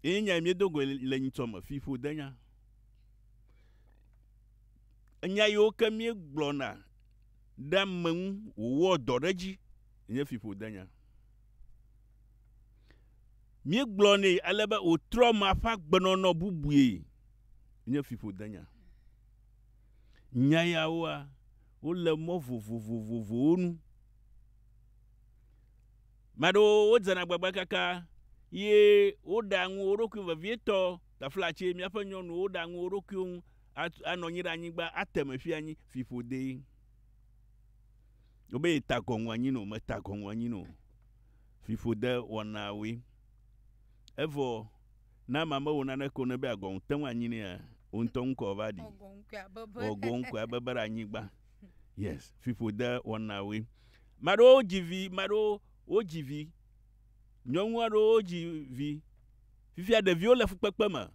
Ye nyae miedo goe le nyitsɔ me, fiƒodenya. Enya yiwo ke míegblɔna ɖe ame ŋu wòwɔa dɔ ɖe edzi nye fiƒodenya. Míegblɔnɛ ale be wòtrɔ mea ƒe agbenɔnɔ bubue nye fiƒodenya. Nya yawoa, wole mɔ vovovovovowo nu. Ame aɖewo wodzena agbagba kaka ye woɖea ŋu wo ɖokui vevietɔ. Taflatse, Míaƒe nyɔnuwo ɖea ŋu wo ɖokuiwo ŋu atu anɔ anyi ɖe anyigba ate eme fia anyi fiƒodee. Wobe yeta gɔŋu anyi nɛ o, meta gɔŋu anyi nɛ o. Fiƒode wɔnawoe. Evɔ ne amea mewɔ naneke o ne be agɔŋu te ŋu anyi nɛa, wò ŋutɔ ŋkɔ va ɖi. Wɔ gɔŋkui abebe ɖe anyigba. Yes, fiƒode wɔnawoe. Ame aɖewo dzi vi, ame aɖewo wodzi vi. Nyɔnu aɖewo wodzi vi. Fifia ɖeviwo le fukpekpe me.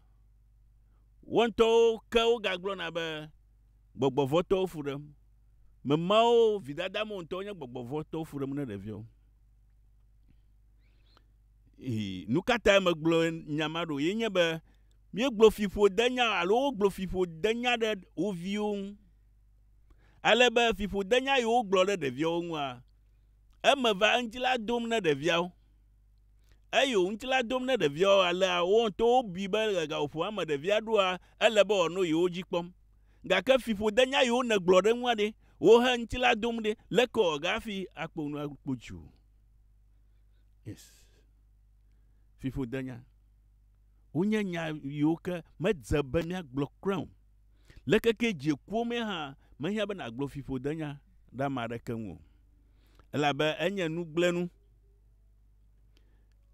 Wo ŋutɔwo ke wogagblɔna be gbɔgbɔ vɔ̃ tɔwo fu ɖem. Ame mawo vidada me wo ŋutɔwo nye gbɔgbɔ vɔ̃ tɔwo fu ɖem ne ɖeviawo. Ii, nu ka tae megblɔ nya ma ɖo? Ye nye be míegblɔ fiƒodenya alo wogblɔ fiƒodenya ɖe wo viwo ŋu. Ale be fiƒodenya yi wogblɔ ɖe ɖeviawo ŋua, eme va eŋuti la dom ne ɖeviawo. Eyi wo ŋuti la dom ne ɖeviawo alea wo ŋutɔ wobui be le gaƒoƒo eme ɖevia ɖoa, ele be wòano yi wo dzi kpɔm. Gake fiƒodenya yi wonegblɔ ɖe eŋua ɖe, wo he ŋuti la dom ɖe, leke wòawɔ hafi akpɔ nu akpɔ dzi o? Yes. Fiƒodenya. Wonye nya yiwo ke medze be míagblɔ kura o. Le keke dziekuwo mee hã, mehiã be nàgblɔ fiƒodenya ɖe ame aɖeke ŋu o, elabe enye nugblẽnu.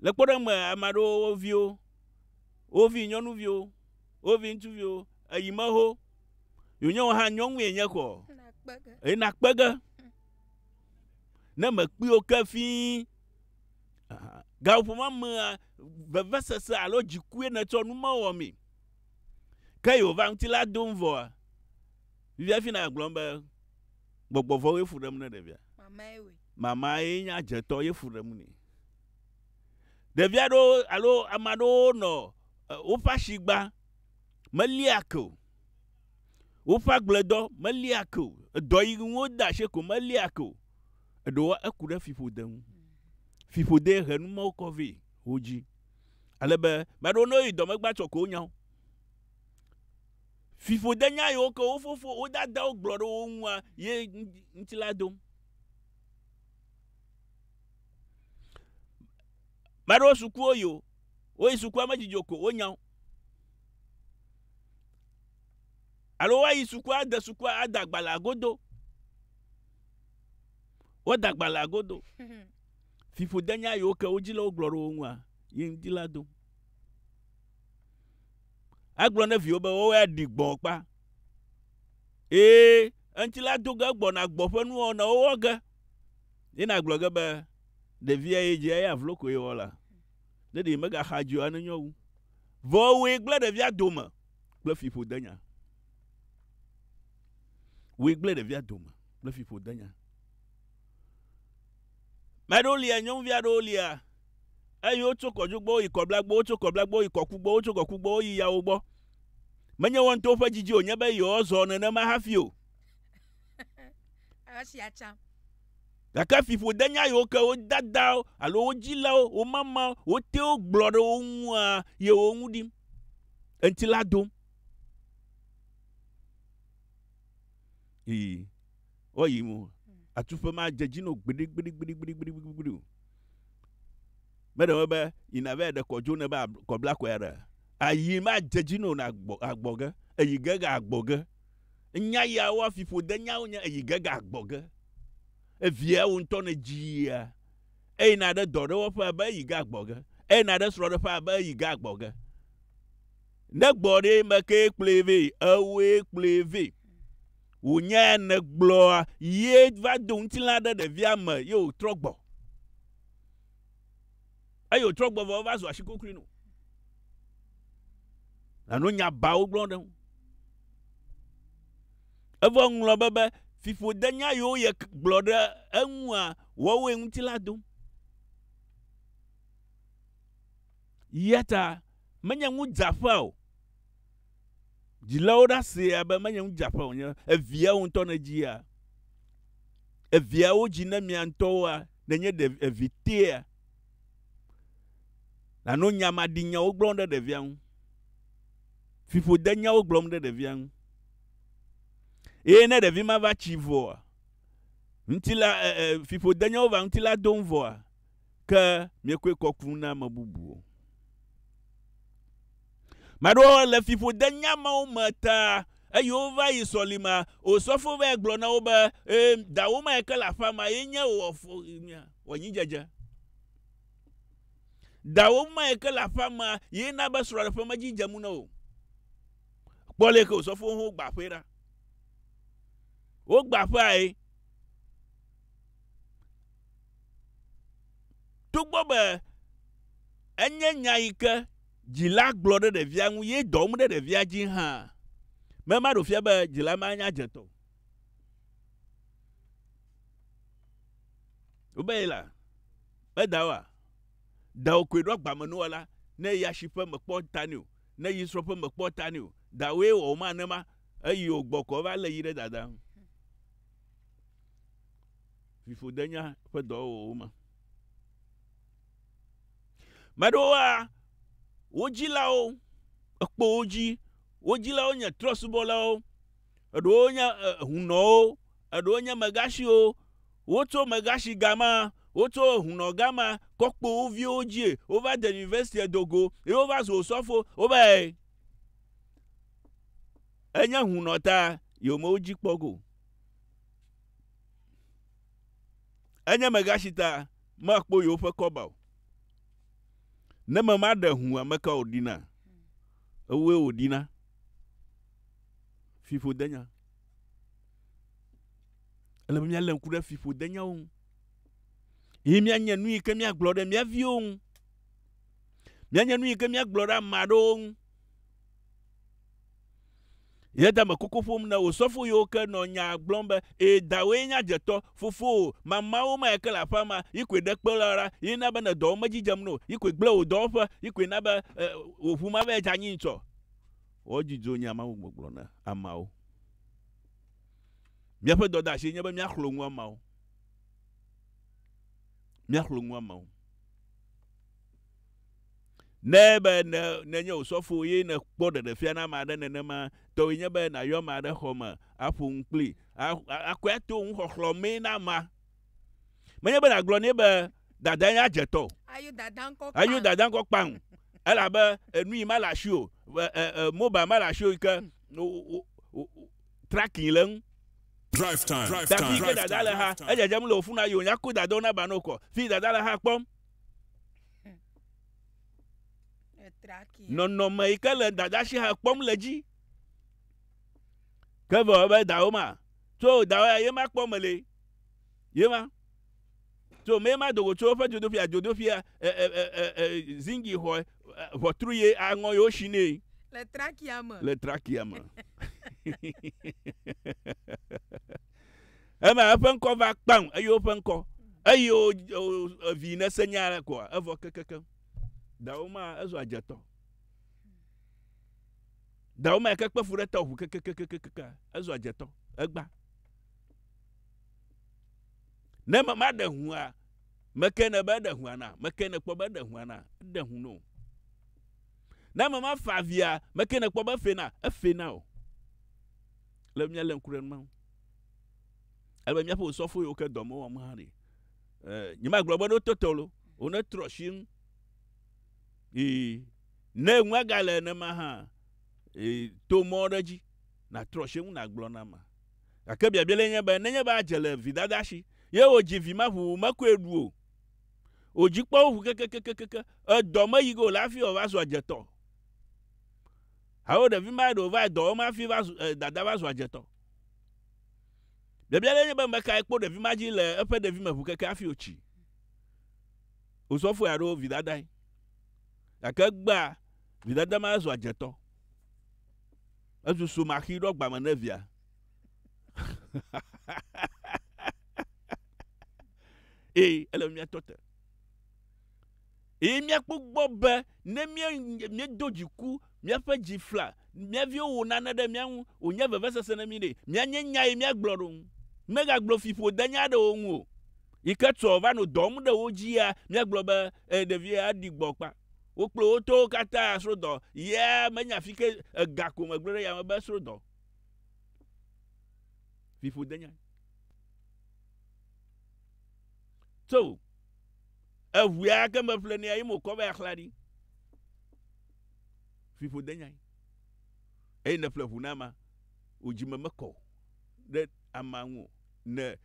Le kpɔɖeŋu me, ame aɖewo wo viwo, wo vinyɔnuviwo, wo viŋutsuviwo, eyi me ho, yi wònye wò hã nyɔnue nye kɔ, eye nàkpe ge ne mèkpui wo ke fĩi gaƒomea mea, vevesese alo dzikue nètsɔ nu mewɔ mee. Ke Yehowa ŋutilã dom vɔa, vivifi na agblɔm be, Gbɔgbɔ vɔ̃wo ye fu ɖem ne ɖevia. Mama ye nye adzetɔ ye fu ɖem nɛ. Ɖevi aɖewo alo ame aɖewo nɔ woƒe asi gbã, melia ke o. Woƒe agbledɔ melia ke o. Edɔ yi ŋu wode asi ko melia ke o. Eɖewoa, eku ɖe fiƒode ŋu. Fiƒodee he numɔwo kɔ vɛ wodzi. Ale be meɖo ne woyi dɔme gba tsɔ ko nya wo. Fiƒode nya yiwo ke wo fofo wo dadawo gblɔ ɖe wo ŋua ye ŋuti la dom. Meɖo sukuwo yi o. Woyi sukua me dzidzɔ ko wonya wo. Alo woayi sukua ade sukua ada agbalẽ agodo. Woda agbalẽ agodo. Fiƒode nya yiwo ke wo dzilawo gblɔ ɖe wo ŋua ye ŋdi la dom. Agblɔ ne viwo be woawo ya ɖi gbɔ kpa. Ee, eŋti la do ge gbɔna gbɔ ƒe nuwɔna wowɔ ge. Ye nagblɔ ge be ɖevia ye dze eya vlo koe wɔ la. Ne ɖe megaxa dzi o anenyo wu. Vɔ wòe gblẽ ɖevia dome kple fiƒode nya. Wòe gblẽ ɖevia dome kple fiƒode nya. Me aɖewo lia, nyɔnuvi aɖewo lia, eye wotso kɔdzi gbɔ yi kɔbla gbɔ, wotso kɔbla gbɔ yi kɔku gbɔ, wotso kɔku gbɔ yi yawo gbɔ. Menye woawo ŋutɔ woƒe didi wònye be yewoazɔ nenema hafi o. Esia tsã. Gake fiƒode nya yiwo ke wo dadawo alo wo dzilawo, wo mamawo, wo tewo gblɔ ɖe wo ŋua ye wo ŋu ɖim, eŋuti la dom. Ii. Woyi ŋu. Atuƒe ma dze dzi no gbiɖigbiɖigbiɖigbiɖigbiɖigbiɖi o. Meɖe wo be yina vɛ ɖe kɔdzo ne be kɔbla kɔe aɖe. Ayi ma dze dzi no na gbɔ agbɔ ge. Eyi ge ga agbɔ ge. Nya ya wo afi ƒode nyawo nye eyi ge ga agbɔ ge. Evia wo ŋutɔ ne dzia. Eyi na ɖe dɔ ɖe wo ƒe be eyi ge agbɔ ge. Eyi na ɖe srɔ ɖe ƒe be eyi ge agbɔ ge. Ne gbɔ ɖe me ke kplɔe vɛ. Ewoe kplɔe vɛ. wò nya ya nègblɔa ye va do ŋutilã ɖe ɖevia me ye wòtrɔ gbɔ. Eye wòtrɔ gbɔ vɔ eva zu ashikokoe no. Nano nya bawo gblɔ ɖe ŋu. Evɔ ŋlɔ be be fiƒode nya yiwo ye gblɔ ɖe eŋua wɔwoe ŋuti la dom. Yata menye ŋudzaƒea o. Dzilawo ɖa sea be menye ŋudzaƒe wònye be eviawo ŋutɔ nedzia eviawo dzi ne mia ŋutɔwoa, nenye ɖe evi tea, nàno nya maɖi nyawo gblɔm ɖe ɖevia ŋu, fiƒode nyawo gblɔm ɖe ɖevia ŋu. Eye ne ɖevi ma va tsi vɔa, ŋutilã, e, e, fiƒode nyawo va ŋutilã dom vɔa, ke miekɔe kɔ ku na ame bubu o. Maɖewo le fiƒode nyamawo me ta eye wova yi sɔlima. Osɔfo va gblɔ na wo be, ee, dawò ma yi ke le aƒea ma ye nye wò anyidzedze. Dawò ma yi ke le aƒea ma ye na be srɔ̃ɖeƒe medzi dze mu na wò. Kpɔ le ke osɔfo ho gba aƒe ɖa. Wogba aƒea ye. Togbɔ be enye nya yi ke dzila gblɔ ɖe ɖevia ŋu ye dɔ wɔm ɖe ɖevia dzi hã, me ma ɖo fia be dzila ma nya dze tɔ o. Wobe ye la, be dawòa, dawò koe ɖo agbamenuwɔla, ne yi asi ƒe mèkpɔ ta nɛ o, ne yi srɔ̃ ƒe mèkpɔ ta nɛ o, dawòe wɔ wo ma ne ma, eyi wògbɔ kɔ va lé yi ɖe dada ŋu. fiƒodenya ƒe dɔwɔwɔwo me. Me ɖewoa, wo dzilawo ekpɔ wo dzi, wo dzilawo nye trɔ̃subɔlawo, eɖewo nye ehunɔwo, eɖewo nye megashiwo, wotso megashi gama, wotso ehunɔ gama kɔ kpo wo viwo dzi, wova de yunivɛsitia do go ye wova zu osɔfo, wova enye ehunɔ ta yewo me wo dzi kpɔ go. Enye megatsi ta makpo yewoƒe kɔba o. Ne mema ɖe ŋu ame ka wòɖina? Ewòe wòɖina. Fiƒodenya. Ele be míalé ŋku ɖe fiƒodenyawo ŋu. Ye míanye nu yi ke míagblɔ ɖe mía viwo ŋu. Míanye nu yi ke míagblɔ ɖe ame aɖewo ŋu. Yeda me koko ƒom na wò sɔfo yiwo ke nɔ nyaa gblɔm be, Ee, dawòe nye adzetɔ. Fofowò mamaawo mae ke le aƒea ma, yi koe ɖe kpe la ɖa, ye na be nɔ dɔwɔm medzi dzem na wò, yi koe gblẽ wò dɔwɔƒe, yi koe na be wò ʋu ma vae dze anyi ŋutɔ. Wɔ dzudzɔ nya ma ŋu gbɔgblɔ na ameawo. Míaƒe dɔdeasie nye be míaxlɔ̃ nu ameawo. Míaxlɔ̃ nu ameawo. Ne be ne nenye wò sɔfo ye nèkpɔ ɖeɖefia na ame aɖe nenema, tɔwòe nye be nàyɔ ame aɖe xɔ me aƒo nu kplii. Akɔe ato nuxɔxlɔ̃ mee na amea. Menye be nàgblɔ nɛ be, Dadae nye adzetɔ o. Ayo dada ŋkɔ kpaŋ. Ayo dada ŋkɔ kpaŋ. Elabe enui ma le asiwò, mobile ma le asiwò yi ke tracking le eŋu. Tafi yi ke dada le xa, edzedzem le wò funu ayi wònya ko dadawo nava nɔ wò kɔ. Fi yi dada le xa kpɔm. nɔnɔme yi ke le dadasi hã kpɔm le dzi ke vɔ be dawo ma tso dawo ya ye ma kpɔ me le ye ma tso me ma dogo tso ƒe dzodofia dzodofia e e e e, e zingi xɔ ʋɔtru ye aŋɔ yewo si nɛ le trakia me le trakia me Eva eƒe ŋkɔ va kpam, eye woƒe ŋkɔ, eye o, o, vi nese nya aɖe koa, evɔ kekekem. Dawo ma ezu adzetɔ. Dawo ma ke kpe fu ɖe tɔ ʋu kekekekekekeka, ezu adzetɔ, egba. Ne me ma ɖe hua, meke ne be eɖe hua na, meke ne kpɔ be eɖe hua na, eɖe hu no. Ne me ma fa via, meke ne kpɔ be efe na, efe na o. Ele be míalé ŋku ɖe numa ŋu. Ele be míaƒe osɔfo yiwo ke dɔ me wɔm hã ɖi. Eh, nyemagblɔ be ɖo tete o, wonetrɔ asi ŋu. Ii, ne ŋu agale nenema hã, ii, to mɔ ɖe dzi, natrɔ asi ŋu nagblɔ na ma. Gake biabia le nye be, nenye be adze le vidada si, ye wòdzi vi ma ʋuʋu mekɔe ɖu o, wòdzi kpɔ wo ʋu kekekekeke, edɔ meyi ge o la hafi wòava zu adzetɔ. Alo ɖevi mae ɖewo va yi dɔ wɔm hafi va zu e, dada va zu adzetɔ. Biabia ɖe nye be mekae kpo ɖevi ma dzi le eƒe ɖevime ŋu keke hafi wòtsi. Osɔfoe alo vidadae. Gake egbea, vidada ma zu adzetɔ. Ezu sumaxi ɖɔ gbame ne via. Ee, ele mía tɔ te. Eye míakpɔ gbɔ be ne míedo dziku míaƒe dzi fla mía viwo wɔ nane ɖe mía ŋu wònye vevesese na mí ɖe, míanye nya ye míagblɔ ɖo ŋu. Megagblɔ fiƒodenya aɖewo ŋu o, yi ke tsɔ va nɔ dɔm ɖe wo dzia, míagblɔ be, Ẽ, ɖevia ɖi gbɔ kpa. Wo kple wo tɔwo katã srodɔ ya menye afi ke ega ko megblɔ ɖe yame be srodɔ. Fiƒodenya. So. Eŋue ake meƒle nɛ eye mokɔ be axla ɖi. Fiƒo denyae. Eye ne ƒle ŋu na ma, wò dzi me mekɔ o ɖe ama ŋu o. Ne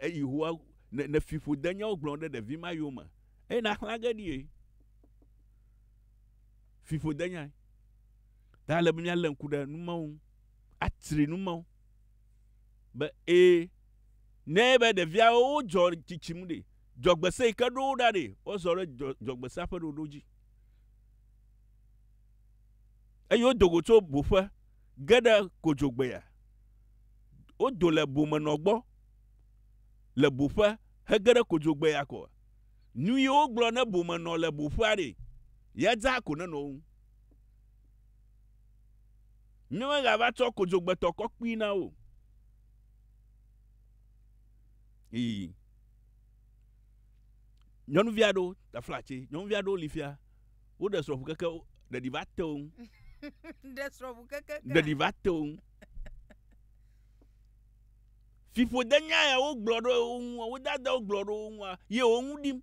eyi hoa, ne, ne fiƒo denyawo gblɔ ɖe ɖevi ma yome, eye naxla ge ɖie. Fiƒo denyae. Ta ale be míalé ŋku ɖe numawo ŋu. Atri numawo. Be, ee, ne be ɖeviawo wodzɔ tsitsim ɖe, Dzɔgbese yi ke ɖo wo ɖa nɛ, wozɔ ɖe dzɔ, dzɔgbesea ƒe ɖoɖo dzi. Eye wodo go tso boƒe ge ɖe kodzogbea. Wodo le bomenɔ gbɔ le boƒe hege ɖe kodzogbea kɔ. Nu yi wogblɔ ne bomenɔ le boƒea ɖe, ya dzaa ko nenɔ wo ŋu. Míemegava tsɔ kodzogbetɔ kɔkpui na wo o. Ii. nyɔnuvi aɖewo tafla tse nyɔnuvi aɖewo li fia woɖe srɔ̃ƒu keke ɖeɖi va te wo ŋu ɖe srɔ̃ƒu keke ɖeɖi va te wo ŋu fiƒode nya ya wogblɔ ɖe wo ŋu wo dada wogblɔ ɖe wo ŋua ye wo ŋu ɖim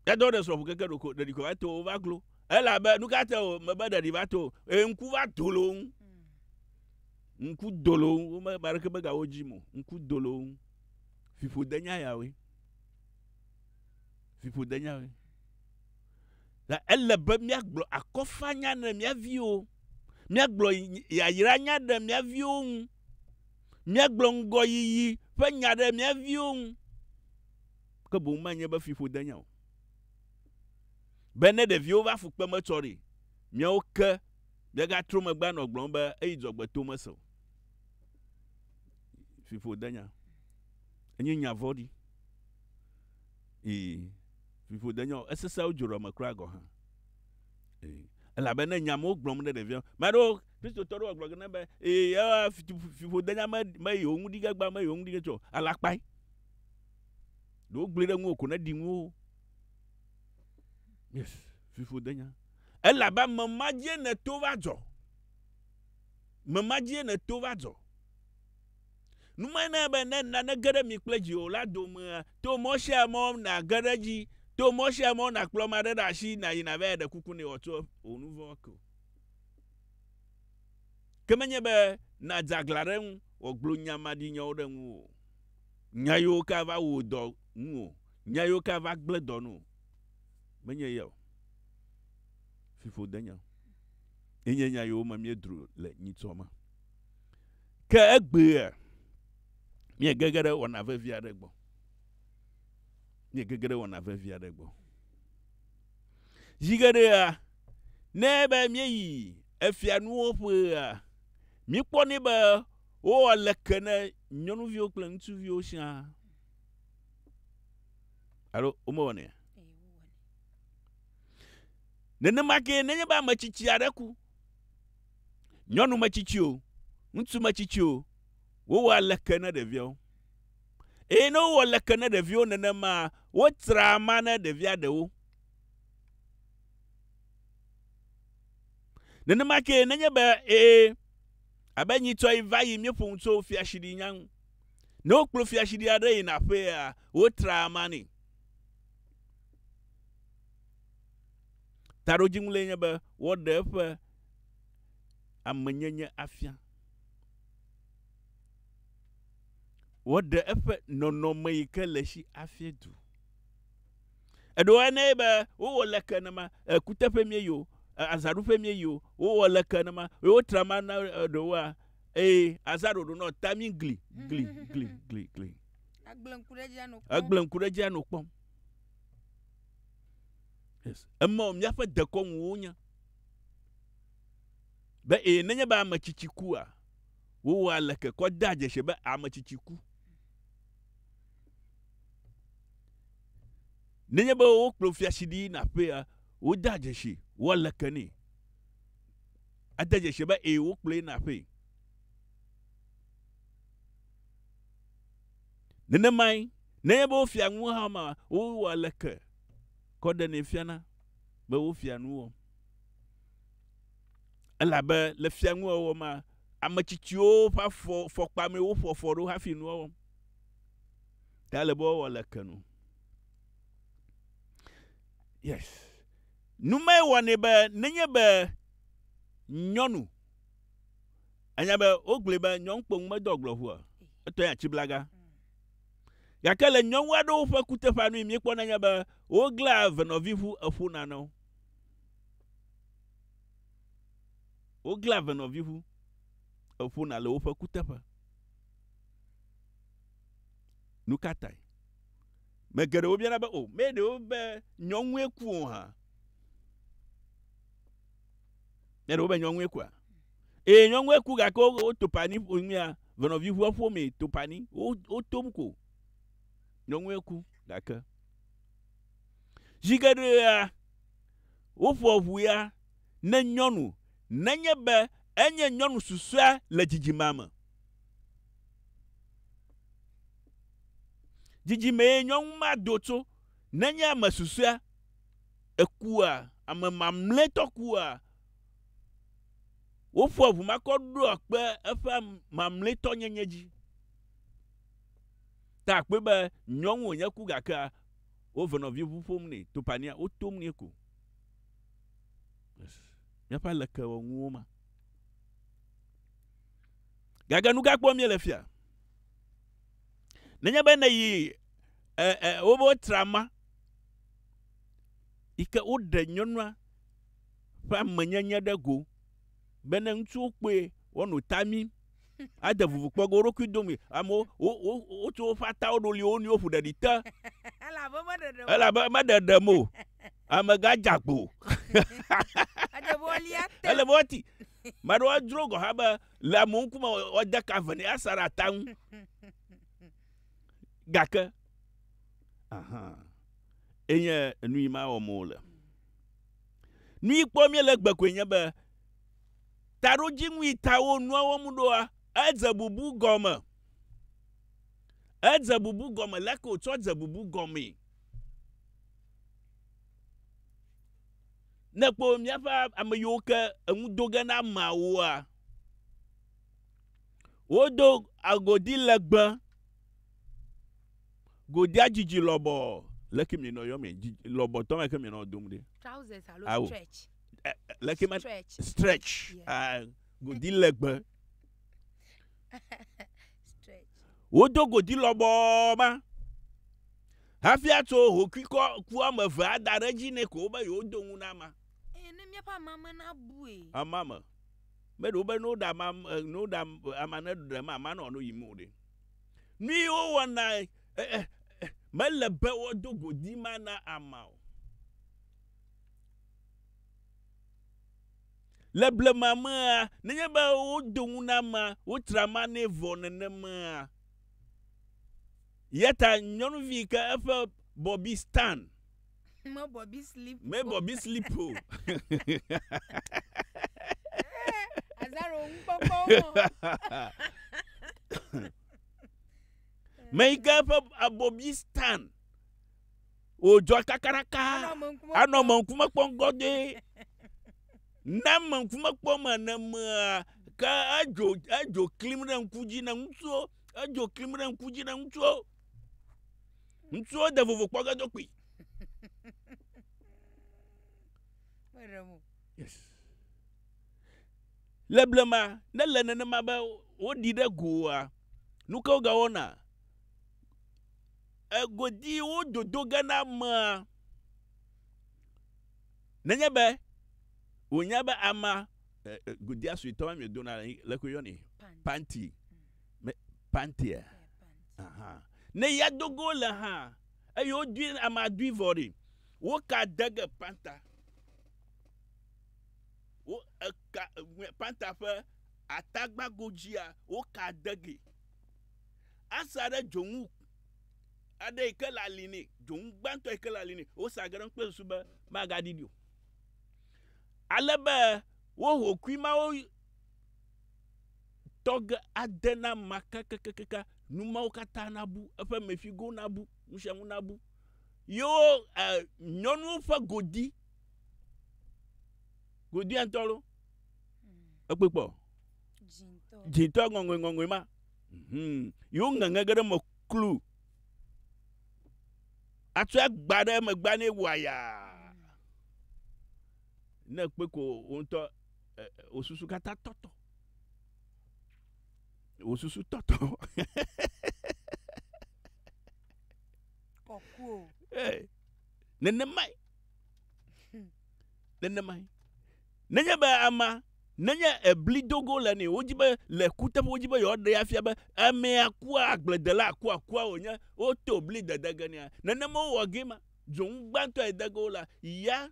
yadɔ ɖe srɔ̃ƒu keke ɖeko ɖeɖi ko va te wo va glo elabe nu ka te o mebe ɖeɖi va te o ŋku va do le wo ŋu Ŋku do le wo ŋu, wome ame aɖeke megawu wo dzim o. Ŋku do le wo ŋu. Fiƒode nya yawoe. Fiƒode nya yawoe. Ta ele be míagblɔ akɔfanya ne mía viwo. Míagblɔ yayraanya ɖe mía viwo ŋu. Míagblɔ ŋgɔyiyi ƒe nya ɖe mía viwo ŋu. Ke boŋ menye be fiƒode nya o. Be ne ɖeviwo va fukpeme tsɔ ɖi, míawo ke Degatro megbe anɔ gblɔm be eyi dzɔgbe to mese o. Fiƒo denya. Enye nya vɔɖi. Ee, fiƒo denya o. Esesẽ wo dzro me kura gɔ̃ hã. Ee, elabe ne nya mewo gblɔm ne ɖevia, me aɖewo Kristotɔ aɖewo gblɔ ge ne be ee, ewa fiƒo denya me me yewo ŋu ɖi ge gbã, me yewo ŋu ɖi ge tsɔ alakpae. Ɖewo gblɔe ɖe ŋuwò ko ne ɖi ŋuwò. Yes. Fiƒodenya. Elabe me ma dzie nèto va dzɔ. Me ma dzie nèto va dzɔ. Nu mae na be ne nane ge ɖe mi kple dziwòla domea, to mɔ sia mɔ nàge ɖe edzi, to mɔ sia mɔ nàkplɔ ame aɖe ɖe asi nàyi navae ɖe kuku nɛ wòatso wò nu vɔ̃ ke o. Ke menye be nàdze aglã ɖe eŋu wòagblɔ nya maɖinyawo ɖe ŋuwò o, nya yiwo ke ava wu wò dɔ ŋu o, nya yiwo ke ava gblẽ dɔ na wò o. Menye ye o. Fiƒodenye. Ye nye nya yiwo me míedro le nyitsɔ me. Ke egbea, míegege ɖe wɔna vevi aɖe gbɔ. Míegege ɖe wɔna vevi aɖe gbɔ. Zi geɖea, ne be míeyi efianuwo ƒea, míekpɔnɛ be wowɔ leke ne nyɔnuviwo kple ŋutsuviwo siaa. Alo womewɔnɛ? Nenema ke nenye be ame tsitsi aɖe ku, nyɔnu metsitsi o, ŋutsu metsitsi o, wowɔ leke ne ɖeviawo. Eye ne wowɔ leke ne ɖeviwo nenema, wotra ma ne ɖevia ɖewo. Nenema ke nenye be ee, Abe nyitɔe va yi míeƒo nu tso fiaɖuɖunya ŋu. Ne wokplɔ fiaɖuɖu aɖe yina aƒea, wotraa ama nɛ. Taɖodzinu lae nye be woaɖe eƒe amenyenye afia. Woaɖe eƒe nɔnɔme yi ke le si afia du. Eɖo eŋu nɛ be, Wowɔ leke nema, kuteƒee míeyi o, azãɖuƒee míeyi o, wowɔ leke nema, eye wotra ma na ɖewoa? Ee, azã ɖoɖo nɔ ta mí gli, gli, gli, gli, gli. Egblẽ ŋku ɖe edzia nɔ kpɔm. Egblẽ ŋku ɖe edzia nɔ kpɔm. Yes. Emaɔ, míaƒe dekɔnu wonya. Be ee, nenye be ame tsitsi kua, wowɔa leke kɔ dea dzesi be ame tsitsi ku. Nenye be wokplɔ fiasidi yina aƒea, wode adzesi woale ke nɛ. Ade dzesi be ee wokplɔe yina aƒee. Nenemae, nenye be wofia nu hã ma, wowɔ ale ke kɔ ɖenɛ fiana be wofia nu wɔm. Elabe le fianuwɔwɔ ma, ame tsitsiwo ƒe afɔ fɔkpa mee woƒo afɔ ɖo hafi nua wɔm. Ta le be wowɔ le ke nu. Yes. Numae wɔnɛ be nenye be nyɔnu anya be wogblɔe be nyɔnukpɔnu medɔ agblɔ ŋu o, etɔ ya tsi blaga. Gake le nyɔnu aɖewo ƒe kuteƒea nui míekpɔna nya be woglea venɔvi ŋu eƒona na wo. Woglea venɔvi ŋu eƒona le woƒe kuteƒe. Nu ka tae? Me geɖewo biana be, O, mee ɖewo be nyɔnue ku o hã? Mee ɖewo be nyɔnue kua? Ee, nyɔnue ku gake woto pani ƒomea, venɔvi ƒe ƒomee to pani. Wotom ko. Nyɔnue ku gake. Zi geɖea, woƒoa ŋu ya ne nyɔnu, nenye be enye nyɔnu susɔea le dzidzimea me. Dzidzimee nyɔnu ma do tso. Nenye ame susɔea ekua, ame mamlɛtɔ kua. Woƒoa ʋu makɔ ɖoa kpe eƒe mamlɛtɔnyenye dzi. Ta akpɔe be nyɔnu wònye ku gakea, wove nɔvi ŋu ƒom nɛ, topania, wotom nɛ ko. Míaƒe alekewɔnuwo ma. Gake nu ka kpɔm míele fia? Nenye be nèyi e, e, wobe trama yi ke woɖe nyɔnua ƒe amenyenye ɖe go be ne ŋutsuwo kpɔe woanɔ ta mim ade vuvu kpɔ ge woɖokui dome amewo wotu woƒe atawo ɖo li wo nɔewo ƒo ɖeɖi te elabe meɖeɖem o Amegã dze agbo. Ele be woalia te. Ele be woati. Ame aɖewo adzro gɔ̃ hã be le amewo ŋkume woade ka ve nɛ asa ɖe ata ŋu. Gake, aha, enye enu yi ma wɔm wole. Nu yi kpɔm míele egbe koe nye be taɖodzinu yi ta wo nua wɔm ɖoa, edze bubu gɔme. Edze bubu gɔme. Leke wòtsɔ dze bubu gɔmee? Ne kpɔ míaƒe ame yiwo ke enu do ge na ameawoa, wodo agodi legbe, godia dzidzi lɔbɔ le ke minɔ yɔ mi lɔbɔ tɔ me ke minɔ dom ɖe. Trousers alo Awo. stretch. Eh, eh, Le ke me Stretch. stretch, Yeah. ah, godi legbe. stretch. wodo godi lɔbɔɔ ma Hafi atso hokuikɔ ku woame eve ada ɖe edzi nɛ ko wobe yewodo ŋu na amea. Eye ne míaƒe amea me nabue. Amea me. Meɖe wo be ne woɖe amea, ne woɖe amea ne ɖem amea ne wòano yim o ɖe. Nui wowɔna, mele be woado godi ma na amea o. Le blema mea, nenye be wodo ŋu na amea, wotra amea nɛ vɔ nenemea. Yata nyɔnuvi yi ke eƒe bɔbi stan. Me bɔbi slip o. Me bɔbi slip o. Azaro ŋkpɔkpɔ o. Me yi ke eƒe abɔbi stan. Wòdzɔ kakaraka. Anɔ me ŋkume kpɔm gɔdɔe. Ne me ŋkume kpɔm ene mea, ke edzo edzo klim ɖe ŋku dzi ne ŋutsuwo. Edzo klim ɖe ŋku dzi ɖe ŋutsuwo. Ŋutsuwo de vovo kpɔ ge do kpi. Yes. Le blema, ne le nenema be woɖi ɖe goa, nu ke wogawɔna? Egodi wododo ge na amea. Nenye be wònya be amea, eh, eh, godia suetɔ ma miedona le, le koe yɔnɛ? Panti. Me, pantia. Aha. Ne ya dogo le ha, eye wodui, amea dui vɔ ɖi. Woka dege panta. Wo, eka, panta ƒe atagbago dzia, woka dege. Asa ɖe dzonu aɖe yi ke le ali nɛ, dzonu gbãtɔ yi ke le ali nɛ. Wosea ge ɖe eŋu kple susu be magaɖiɖi o. Ale be wo hokui mawo tɔ ge ade na ma kakakakaka, nu mawo katã nabu, eƒe mefigowo nabu, nu sia nu nabu. Yewo e nyɔnuwo ƒe godi, godia ŋutɔ loo. Ekpɔe kpɔ. Dzĩtɔ. Dzĩtɔ ŋɔŋɔe ŋɔŋɔe ma. Hum. Yewo ŋeŋe ge ɖe eme klu. Atsɔe agba ɖe megbea nɛ wòayaa. Ne ekpe ko wò ŋutɔ wò susu katã tɔtɔ. Wò susu tɔtɔ. Kɔkuo. Nenemae. Nenemae. Nenye be amea, nenye eblidogo le nɛ wodzi be le kuteƒe wodzi be yewoaɖee afia be amea kua, agbledelaa kua kua wònye, woto bli dede ge nɛa? Nenema wowɔ gee ma. Dzonu gbãtɔ yi de ge wo la, ya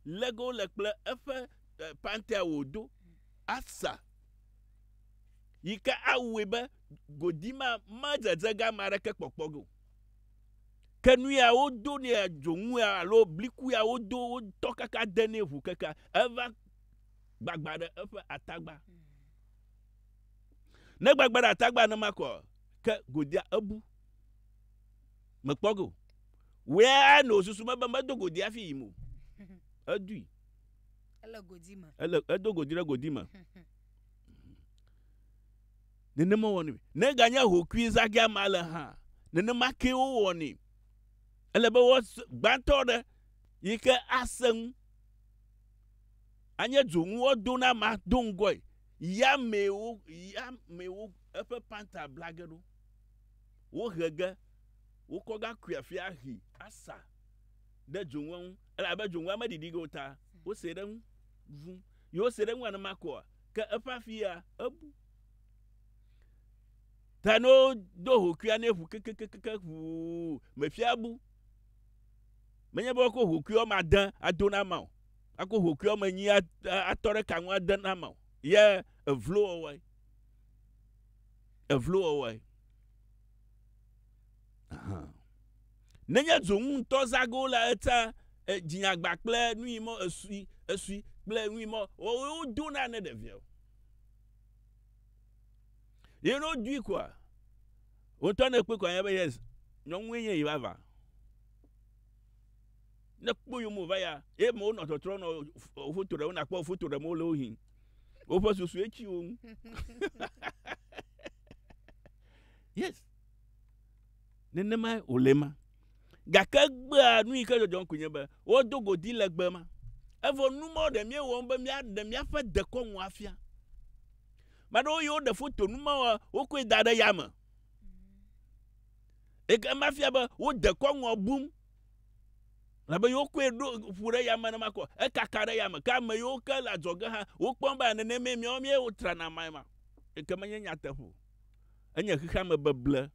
lé ge wo le kple eƒe pantea wòdo asa yi ke awɔe be godi ma medzedze ge ame aɖeke kpɔkpɔ ge o. Ke nu ya wodo nɛ dzonu ya alo bliku ya wodo wotɔ kaka de nɛ ŋu keke eva gbagba ɖe eƒe atagba. Ne gbagba ɖe atagba ne ma kɔ ke godia ebu. Mekpɔ go. Wea no susu me be medo godi afi yim o. Edui. Ele godi me. Ele edo godi ɖe godi me. nenema wɔnɛ. Ne eganye ahokui zagɛ amea le hã, nenema kee wowɔnɛ. Ele be woa, gbãtɔ ɖe, yi ke ase ŋu, anye dzonu woado na amea do ŋgɔe, ya mee wo, ya mee wo eƒe panta bla ge ɖo. Wohe ge, wokɔ ga kui afi ahi asa ɖe dzonua ŋu, elabe dzonua meɖiɖi ge o ta wose ɖe eŋu ŋu. Ye wose ɖe eŋu anema koa, ke eƒe afia ebu. Ta ne wodo hokuia ne ʋu kekekeke ʋuu mefia bu. Menye be wokɔ hokui wɔme ade ado na ma o. Akɔ hokui wɔme enyi atɔ ɖe ka ŋu ade na ma o. Ye evlowɔwɔe. Evlowɔwɔe. Ahan. Nenye dzonu ŋutɔ zage wo la, etsã e, dzinyagba kple nui mɔ esui, esui kple nui mɔ wɔwɔe wodo na ne ɖevia o. Ye ne wodui koa, wotɔ ne kpɔe koa nya be yes, nyɔnue nye yi vava. Ne kpɔ yome wòva ya, ye me wonɔ tɔtrɔ nɔ foto ɖem, nakpɔ foto ɖem wole wo hin. Woƒe susue tsi wo ŋu. Yes. Nenemae wòle ema. Gake egbea nu yi ke dzɔdzɔm koe nye be wodo godi legbe ma. Evɔ nu mawo ɖe míewɔm be míaɖe míaƒe dekɔnu afia. Ame aɖewo yi woɖe foto nu mawo wokɔe da ɖe yame. Eke ema fia be wo dekɔnua bum. Labe yewo kɔe ɖo ƒu ɖe yame ne makɔ ekaka ɖe yame. Ke ame yiwo ke le adzɔge hã wokpɔm be nenemee míawo míewo trana mae ma. Eke menye nyateƒe o. Enye xexeame beble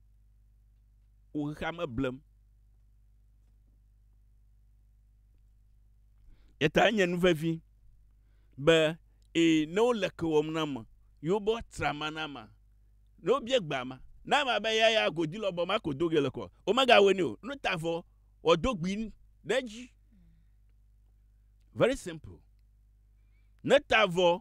wo xexeame blem. Eta enye nu vevi be ee, ne wole ke wɔm na ame, yewo be woatra ama na amea, ne wobia gbe amea, ne amea be ya ya godi lɔ bɔ ma ko do ge le kɔ, womegawɔe nɛ o. Nu ta vɔ, woado gbi ɖe edzi. Very simple. Ne ta vɔ,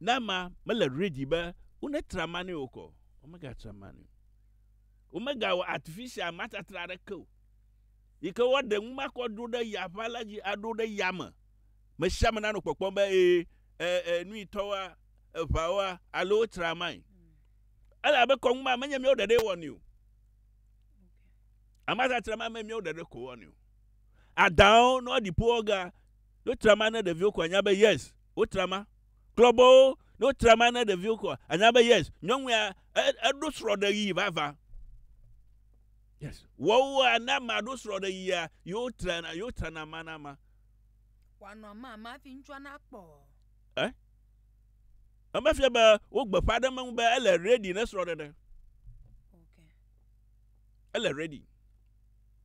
Ne ame mele ready be wonetra ma nɛ okɔ, womegatrã ma nɛ o. Womegawɔ artificial matatra aɖeke o yi ke woaɖe nu ma kɔ aɖo ɖe yaʋa la dzi aɖo ɖe yame. Me sia ame nanɔ kpɔkpɔm be ee e nu yi tɔ woa, eʋa woa alo wotra mae. Ele abe kɔnu ma menye míawo ɖeɖee wɔnɛ o. Amatatra ma menye míawo ɖeɖe ko wɔnɛ o. Adaawo ne woaɖi ƒo wɔ ga, ne wotra ma ne ɖeviwo ko anya be yes wotra ma. Kplɔ bɔwo, ne wotra ma na ɖeviwo kɔa, ànya be yes, nyɔnu ya, e, eɖo srɔ̃ɖeɣi vavã. Yes. Wɔwɔa ne amea ɖo srɔ̃ɖeɣia, ye wotrana, ye wotrana ama na ama. Wòanɔ ama ama hafi ŋutsua nakpɔ. Eh? Emefia be wogbeƒã ɖe meŋu be ele ready ne srɔ̃ɖeɖe. Okay. Ele ready.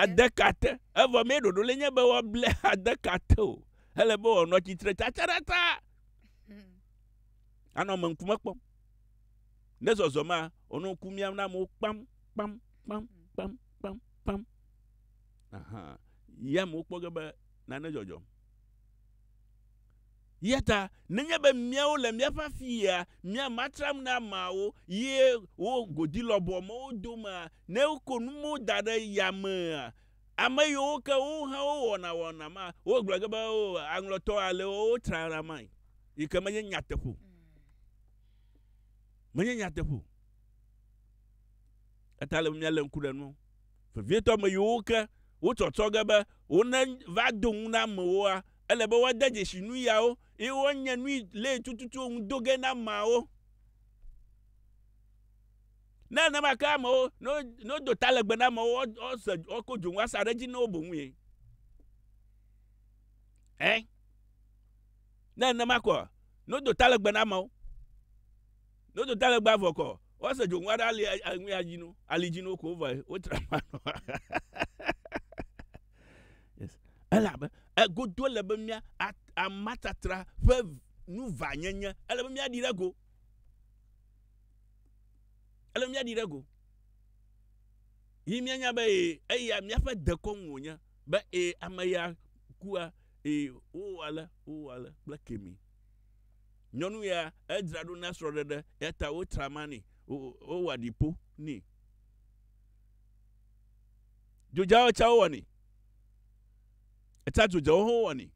adekate evɔ mɛ ɖoɖo le nye be woable adekate o ele be wòanɔ tsitre tsatsaɖata anɔ ame ŋkume kpɔm ne zɔzɔ ma wònɔ ŋku miam na amewo kpam kpam kpam kpam kpam kpam aha ya amewo kpɔ ge be nane dzɔdzɔm Eya ta nenye be míawo le míaƒe afia, mía ma tram na ameawo ye wo godi lɔbɔɔ mɔwo domea, ne woko nu mɔwo da ɖe yamea, ame yiwo ke wo hã wo wɔna wɔna ma, wo gblɔ ge be, O, aŋlɔtɔ ale wo wo tra na mae. Yi ke menye nyateƒe o. Menye nyateƒe o. Eya ta le be míalé ŋku ɖe nu vevietɔ ame yiwo ke wo tsɔtsɔ ge be wo ne va do ŋu na amewoa, Ele be woade dzesi nuyawo, eye woanye nui lee tututuwo ŋu do ge na ameawo. Ne nenema ke amewo, ne wodo ta legbe na amewo, woase, woako dzonu asa ɖe edzi na wo boŋue. Ɛ. Ne nenema kɔ, ne wodo ta legbe na amewo, ne wodo ta legbe avɔ kɔ, woase dzonu aɖe ali, ali dzi no, ali dzi no ko vɔe, wotra ma nɔ. Elabe egodo ele be mía amatatra ƒe nu vanyenye, ele be míaɖi ɖe go. Ele be míaɖi ɖe go. Yi míanya be ee, eya míaƒe dekɔnu wònye, be ee, ame ya kua, ee, wowɔ ale, wowɔ ale kple kemi. Nyɔnu ya, edzra ɖo na srɔ̃ɖeɖe, eya ta wotra ma nɛ, wowɔ aɖipo nɛ. Dzodzawo tsa wowɔnɛ. Etsa dzodzawo hã wowɔnɛ.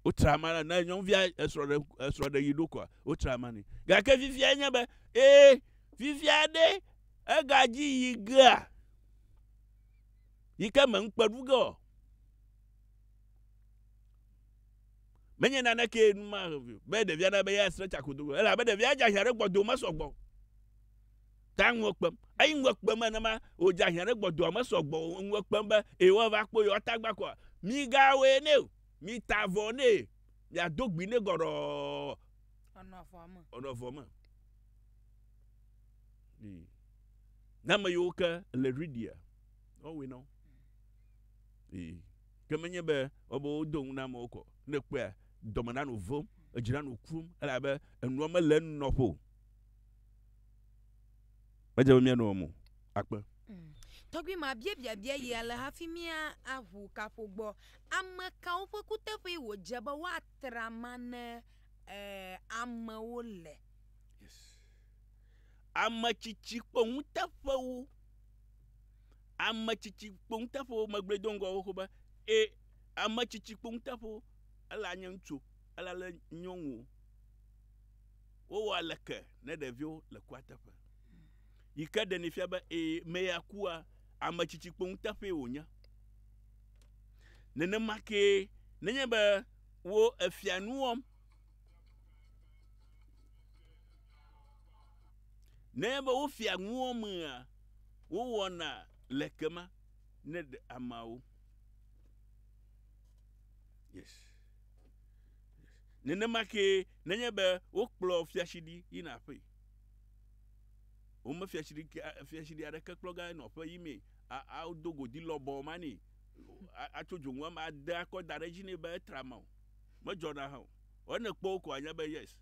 Wotra ama na ne nyɔnuvia esrɔ̃ ɖe esrɔ̃ ɖe yi ɖo koa wotra ama nɛ. Gake fifia enye be ee fifia ɖe egadzi yi gea yi ke me ŋukpe ɖu ge o. Menye naneke nu ma be ɖevia na be yeasrɔ̃ tsa kodogo elabe ɖevia dze ahiã ɖe gbɔdo mesɔgbɔ. Ta ŋu ekpem. Eyi ŋu ekpem nenema wòdze ahiã ɖe gbɔdoa me sɔgbɔ o. Ŋu ekpem be, Eye woava kpɔ yewoa tagba kɔa? Migawɔe nɛ o. Mita avɔ nɛ. Miado gbi nɛ gɔɖɔɔ. Wòanɔ avɔa me. Wòanɔ avɔa me. Ii. Ne ame yiwo ke le ɖuiɖia, woawɔe na wo. Ii. Ke menye be wobe wodo ŋu na amewo kɔ. Ne èkpɔea, dɔme nanɔ wò ʋẽm, edzi nanɔ wò kum, elabe enua mele enɔƒe o. Medze be míanɔ eme o. Akpe. Tɔgbui ma bia biabia yi ale hafi mía aʋu kaƒo gbɔ. Ame kawo ƒe kuteƒee wòdze be woatra ma ne amewo le? Yes. Ame tsitsi kpɔ nuteƒewo. Ame tsitsi kpɔ nuteƒewo. Megblɔe do ŋgɔ xoxo be e ame tsitsi kpɔ nuteƒewo. Ela nye ŋutsu o. Ela le nyɔnu o. wowɔ aleke ne ɖeviwo le kua teƒe. Yi ke ɖeni fia be ee, me ya kua, ame tsitsi kpo ŋuteƒee wònye. Nenema kee nenye be wo efia nu wɔm. Nenye be wofia nu wɔmea, wowɔna le kema ne ɖe ameawo. Yes. Nenema kee nenye be wokplɔ fiatsidi yina aƒee. Wome fiatsidi fiatsidi aɖeke kplɔ ga nɔ aƒe yi mee. Wodo godi lɔbɔ ma nɛ. Atso dzonu ama ade akɔ da ɖe edzi nɛ be etra ma o. Medzɔna hã o. Ene kpɔ wo ko anya be yes.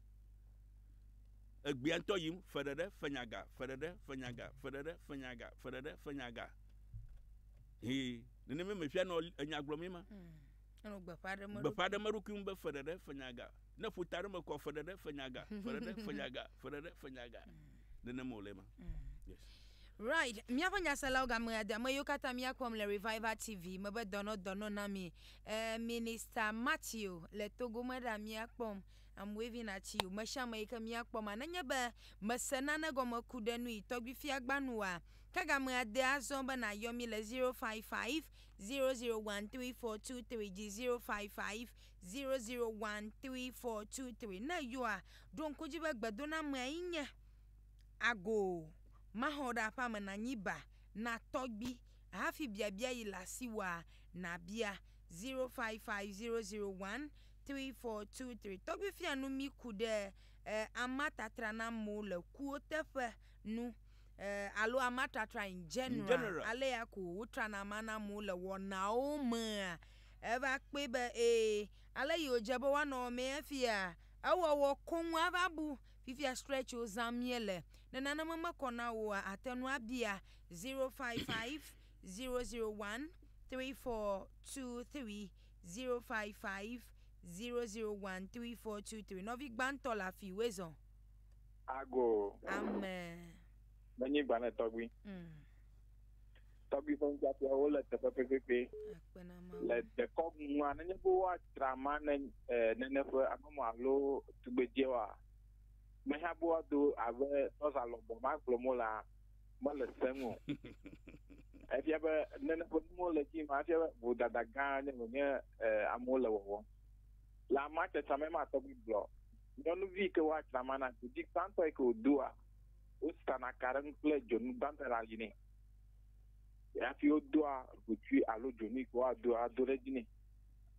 Egbea ŋutɔ yim fe ɖeɖe fenyaga, fe ɖeɖe fenyaga, fe ɖeɖe fenyaga, fe ɖeɖe fenyaga. Hee nenema me fia nɔ enya gblɔm ye ma. Gbeƒã ɖem eɖokui ŋu be feɖeɖe, fenyaga. Ne ƒuta aɖe me kɔ, feɖeɖe, fenyaga, feɖeɖe, fenyaga, feɖeɖe, fenyaga. Nenema wòle ema. Right. Míaƒe nyaselawo game ade ame yiwo katã míakpɔm le Revival TV me be dɔnɔ dɔnɔ na mi. Eh, Minister Matthew le Togo me ɖa míakpɔm. I'm waving at you. Me sia me yi ke míakpɔ ma. Nenye be mèse nane gɔme ku ɖe nu yi tɔgbifia gbanua, ke game ade azɔ be nàyɔ mí le 055 0013423 dzi 055001343 ne yɔa, ɖo ŋku edzi be gbedonamea ye nye, Agoo, maxɔ wò ɖe aƒea me nànyi ba na tɔgbui hafi biabia yi le asiwòa, nàbia. 055001343 Tɔgbui fia nu mí ku ɖe e Amea Tatranamewo le Kuwo Teƒe nu. eh, alo ama tratra in general, in general. alea ko wotrana ama na amewo le wɔnawo mea, eva kpɔe be ee, ale yi wòdze be woanɔ wɔ mee efia, ewɔwɔ koŋ ava bu. Fifia stretch wo zã míele. Ne naneme mekɔ na wòa, àte ŋu abia 055 001 3423, 055 001 3423. Nɔvi gbãtɔ le afi wezɔ. Ago. Ame. Menyi gbalẽ tɔgbi. Mm. Tɔgbi ƒe nufiafia wo le teƒe pɛpɛpɛ. Le dekɔ mua nenye be woadzra ma ne eh, nene ƒe amemɔ alo tugbedzɛ wa. Meha be woado abe tɔza lɔbɔ ma gblɔm wo la mele seŋ o. Efia be nene ƒe nuwo le dzi ma efia be vodada gã nye wònye eh, amewo le wɔwɔ. Le amea tsatsa me ma tɔgbi gblɔ. nyɔnuvi yi ke woa dzrama na dodi gbãtɔ yi ke wòdoa, wosana ka ɖe eŋu kple dzonu gbãtɔ le ali nɛ. Hafi wodoa ʋutsui alo dzonu yi ke woado ado ɖe edzi nɛ.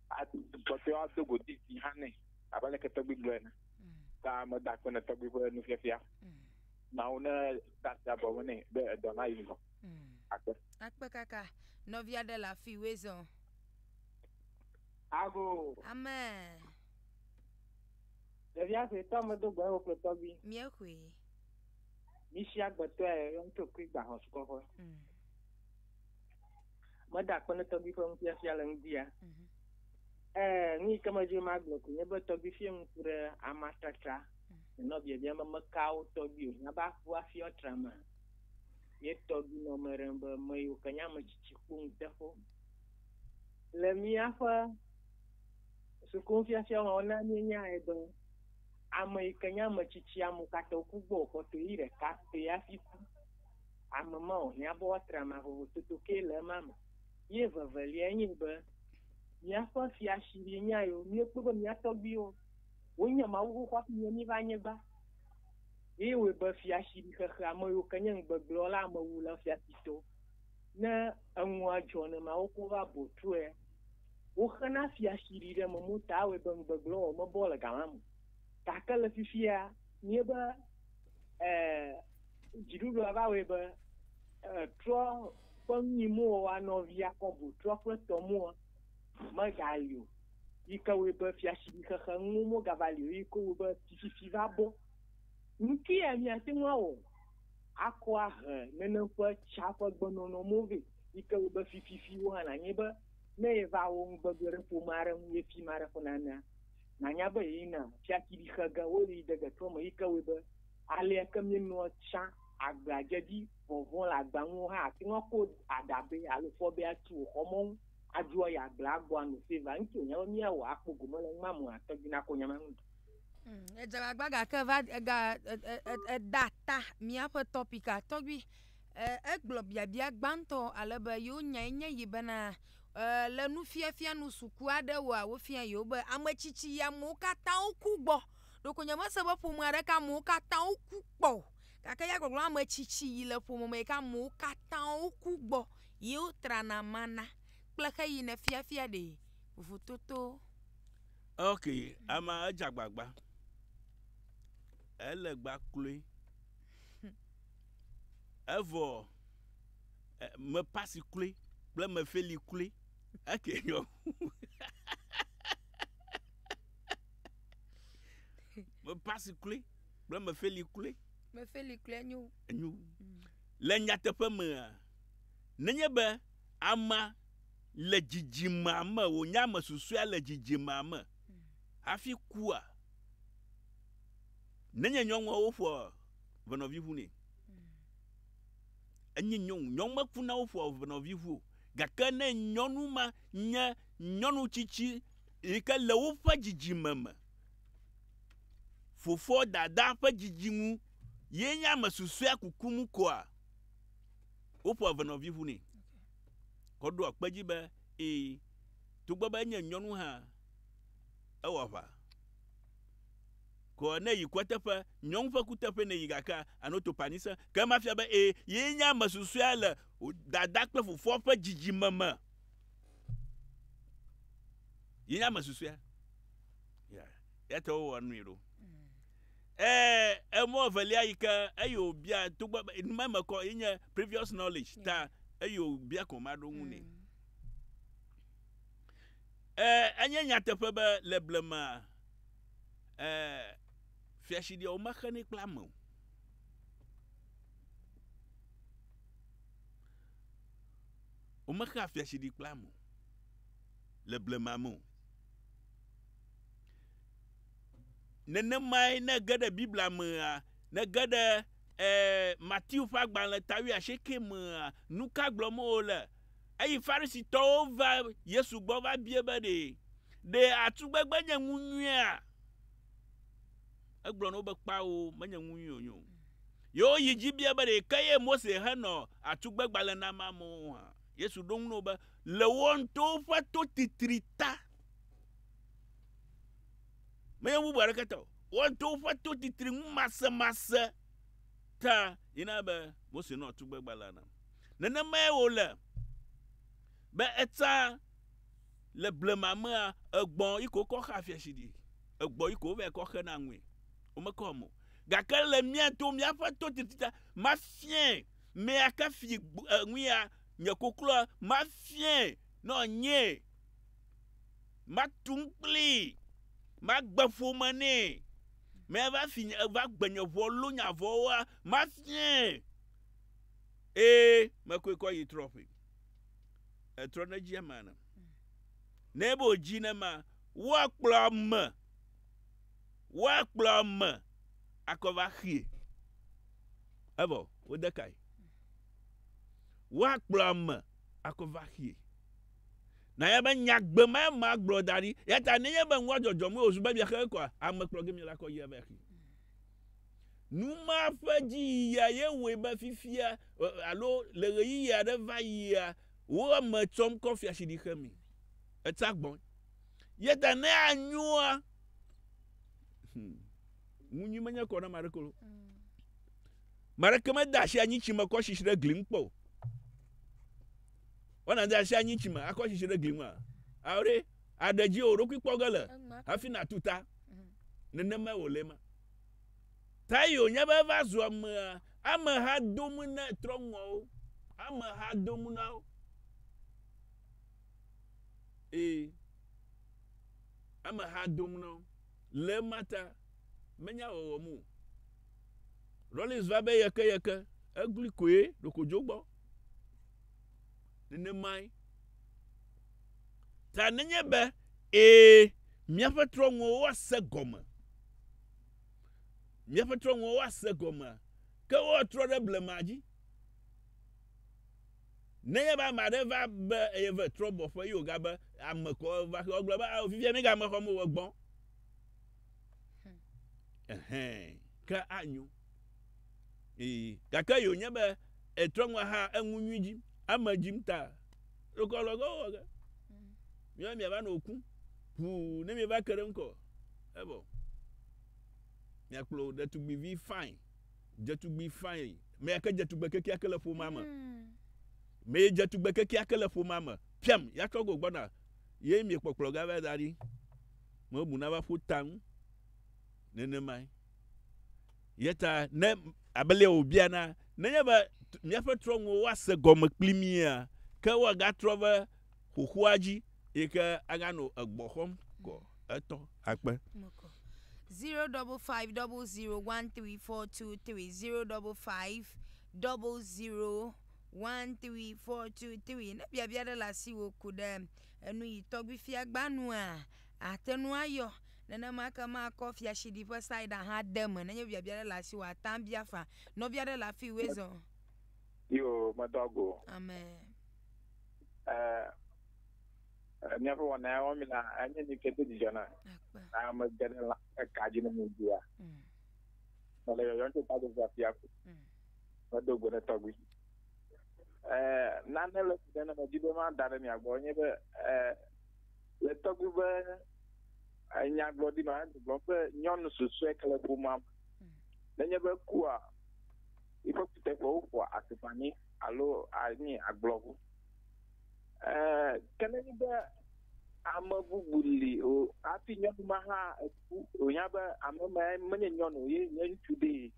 Ado kpɔtɔe woado godi dzi hã nɛ abe aleke tɔgbui gblɔ ene. Ta meda akpe ne tɔgbui ƒe nufiafia. Mawu ne da asi abɔ me nɛ be edɔ nayi ŋgɔ. Akpe. Akpe kaka. Nɔvi aɖe le afii, Wezɔ. Ago. Amen. Ɖevia sue tɔ medo gbe ewo kple tɔgbi. Mie hui. Mi si agbe tɔe ye ŋutɔ kui gba hɔ sukɔƒe. Mm. Me da akpe ne tɔgbi ƒe nufiafia le ŋdi ya. Mm -hmm. Eh, nu yi ke me dzi ma gblɔ ko nye be tɔgbi fie ŋku ɖe ama tratra. Mm. Nɔ biabia me me ka wo tɔgbi o. Nya ba fu afia trama. Ye tɔgbi nɔ me rem be me yo ke nya me cici kpo ŋutefo. Le mi aƒe Sukunufiafia wɔwɔ na míenyae be ame yi ke nye ame tsitsi ame katã woku gbɔ o kpɔtɔe ɣi ɖeka pɛ hafi ku. Ame ma wòhiã be woatra ama vovototo ke le ema me. Ye eveveliae nye be míaƒe fiasi ɖee nye ayewo. Míekpɔe be mía tɔgbuiwo wonye Mawu xoxo hafi nye míva anyigba. Ye wɔe be fiasi ɖi xexe ame yiwo ke nye ŋugbegblẽwɔla, amewula, fiasitɔ. Ne enua dzɔ nenema woko va botruɛ. Woxena fiaxiɖi ɖe eme mota awɔe be ŋugbegblẽ wɔwɔ mebɔ le gã la me o. Gake le fifia, míebe e, dziɖuɖua va wɔe be e, trɔ ƒe nuimowɔwɔa nɔvi Yakobo trɔ kple tɔ mua megali o, yi ke wɔe be fiaxiɖi xexe nuwo mogava li o, yi ke wɔe be fififi va bɔ. Nu kae míate ŋu awɔ akɔ ahe nenem ƒe tsã ƒe gbenɔnɔ mo vɛ, yi ke wɔe be fififi wo hã nanye be Ne yeva wo ŋugbe gblɔ ɖe ƒome aɖe ŋu ye fi ma aɖe ƒo nanea, nànya be yeyina fiakiɖi xe ge woyi de getrɔ me yi ke wɔe be alea ke míenɔa tsã agbea dze dzi vɔvɔ̃ le agba ŋu hã ate ŋu ako aɖabɛ alo fɔbɛ atu wò xɔ mɔnu adzro ayi agblea gbɔ ano save nu si wònya be míawɔ akpɔ gome le nua me ate dzi nakɔ nya ma ŋu. Edze agbagba gake va ega eda ta míaƒe tɔpik a tɔgbi E, egblɔ biabia gbãtɔ ale be yewo nyae nye yi bena, e, le nufiafia nu suku aɖewoa, wofia yewo be ame tsitsi ya amewo katã woku gbɔ. Ɖeko nyemese be ƒome aɖeke amewo katã woku kpɔ o. Gake ya gbɔgblɔ ame tsitsi yi le ƒome me yi ke amewo katã woku gbɔ ye wotrana mana kple xeyina fiafia ɖee. Vovototo. Ok, amea edze agbagba. Ele gba kloe. Evɔ eh, me pasi kloe kple me feli kloe. Eke nyɔ. me pasi kloe kple me feli kloe. Me feli kloe enyo. Enyo. Mm. Le nyateƒe mea, nenye be ama le dzidzimea me, wònye ame susɔe le dzidzimea me mm. hafi kua, Nenye nyɔnua woƒoa ʋenɔvi ʋu nɛ. Enye nyɔnu. Nyɔnu mekuna woƒoa ʋenɔvi ʋu o. Gake ne nyɔnu ma nye nyɔnu tsitsi yi ke le woƒe dzidzime me, fofoa, dadaa ƒe dzidzinu ye nye ame susɔea kukum koa, woƒoa ʋenɔvi ʋu nɛ. Kɔ ɖoa kpe edzi be ee, togbɔ be enye nyɔnu hã, ewɔ aʋa. Ko ne yi kuateƒe, nyɔŋ ƒe kuteƒe ne yi gakea, ano to panyi se. Ke ema fia be ee, yee nye ame susɔea le wò dada kple fofoa ƒe dzidzime me. Yee nye ame susɔea. Ya, ya ta wowɔ nui ɖo. Ee, emɔ evelia yi ke eyi wòbia togbɔ be nu ma me kɔ ye nye previous knowledge ta eyi wòbia ko ma ɖo ŋu nɛ. Mm. Ee, enye nyateƒe be le blema ɛɛ, fiatsɖia womexenɛ kple ame o. Womexea fiatsɖi kple ame o le blema me o. Nenemae ne ege ɖe Biblia mea, ne ege ɖe ɛɛ Matthew ƒe agbalẽ ta wuiasieke mea, nuka gblɔm wole? Eyi Farisitɔwo va Yesu gbɔ va biae be, Ɖe ɖe atugbegbe nye nu nyuia? Egblɔ na wo be, Kpao, menye nu nyui wònye o. Ye woyi dzi biae be, Ɖe ke ye Mose xe nɔ atugbegbalẽ nam amewo hã? Yesu ɖo eŋu na wo be, Le wò ŋutɔwo ƒe totitri ta, menye nu bubu aɖeke ta o, wò ŋutɔwo ƒe totitri ŋumasemase ta ye nana be Mose nɔ atugbegbalẽa nam. Nenemae wòle be etsã le blema mea, egbɔ yi ko wokɔ xea fiasi ɖi, egbɔ yi ko wovae kɔ xena nui. Womekɔ eme o. Gake le mía to, míaƒe to titita, mafiae me aka fi ŋu ya, nye koklɔa, mafiae nɔ nye, matu nu kplii, magbe ƒome nɛ, meva fi nye, va gbe nye ʋɔ, lũ nya vɔ̃woa, mafiae. Ee, mekɔe kɔ yi trɔ ƒe. Etrɔ ne dzi ema ne. Ne ebe wòdzi ne ma, woakplɔ ame, woakplɔ ame akɔva xie. Evɔ, wode kae. Woakplɔ ame akɔva xie. Na ya be nyagbe ma ma gblɔ da ɖi. Yata ne nye be ŋua dzɔdzɔm wòzu be bia xe kɔa, ame kplɔ gemi la kɔ yi ebe xie. Nu ma ƒe dziyiya ye wɔe be fifia alo le ɣeyiɣi aɖe va yia, wo eme tsɔm kɔ fiaɖuɖi xe mi. Etsa gbɔn. Ye ta ne anyoa, hmm, ŋu nyui menye kɔ na ma ɖe kolo. Mm. Mareke mede asi anyi tsi me kɔ sisi ɖe gli ŋu kpɔ o. Wana de asi anyi tsi me akɔ sisi ɖe gli ŋu a? Aore. Àɖe dzi wò ɖokui kpɔ ge le hafi nàtu ta. Nenemae wòle ema. Tayo nya be eva zu amea. Ameha do ŋu na trɔ̃ŋɔwo. Ameha do ŋu na wo. Ee. Ameha do ŋu na wo. Le ema ta, menya wɔwɔ mu. Rollins va be yeke yeke. Eglui koe ɖokodzo gbɔ. Nenemae. Ta nenye be ee, míaƒe trɔ̃ŋuwo ase gɔme. Míaƒe trɔ̃ŋuwo ase gɔme, ke woatrɔ ɖe blema dzi. Nenye be ame aɖe va be eye ve trɔ̃bɔƒe ye wògabe ame kɔ va xe, wogblɔ be ao fifia míegame xɔm o, egbɔ. Ɛhɛ̃, ke anyo. Ii. Gake ye wònye be etrɔ ŋu aha eŋu nyui dzim, ame dzim ta. Ɖokɔ lɔ ge wowɔ ge. Míawo miava nɔ ku. Ʋuu ne mieva ke ɖe ŋkɔ. Evɔ. Miakplɔ ɖetugbivi fãi. Dzetugbi fãi. Me ya ke dze tugbe kekeake le ƒomea me. Me yi dze tugbe kekeake le ƒomea me. Piam, ya trɔ go gbɔna. Ye miekpɔkplɔ ga va da ɖi. Mebu na va ƒu taŋ nenemae. Yeta ne abelea wòbiana, nenye be míaƒe trɔ̃nuwo woase gɔme kpli mía, ke woagatrɔ ve xoxoa dzi yi ke aganɔ egbɔ xɔm kɔ etɔ akpe. Zero double five double zero one three four two three zero double five double zero one three four two three. Ne biabia ɖe le asiwò ku ɖe enu yi tɔgbifia gbanua, àte ŋu ayɔ. Nenema ke makɔ fiashiɖi ƒe saida hã ade eme. Nenye biabia aɖe le asiwò àte ŋu abia faa. Nɔvi aɖe le afii Wesɔ. Yo, medo agu o. Amen. Ee, míaƒe wɔna ya wɔm mílea, enye nu si do dzidzɔ nam. Akpe. Ne ame ge ɖe la eka dzi ne mebia. Mm. Mele yɔyɔm tso Tadzodzo afi afi. Mm. Medo go ne tɔgbui. Ee, nane le si ɖe ne medi be mada ɖe mia gbɔ enye be, ee, Le tɔgbu be nyagblɔɖi ma gblɔ be nyɔnu susue ke le ƒomea me. Nenye be kua, eƒe kuteƒewo ƒoa atukpa nɛ alo anyi agblɔ ŋu. Ee, ke nenye be ame bubu li o hafi nyɔnu ma hã eku wònya be ame ma menye nyɔnu ye nye ŋutsu ɖee.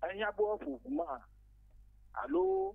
Ehiã be woaƒo ŋu ma alo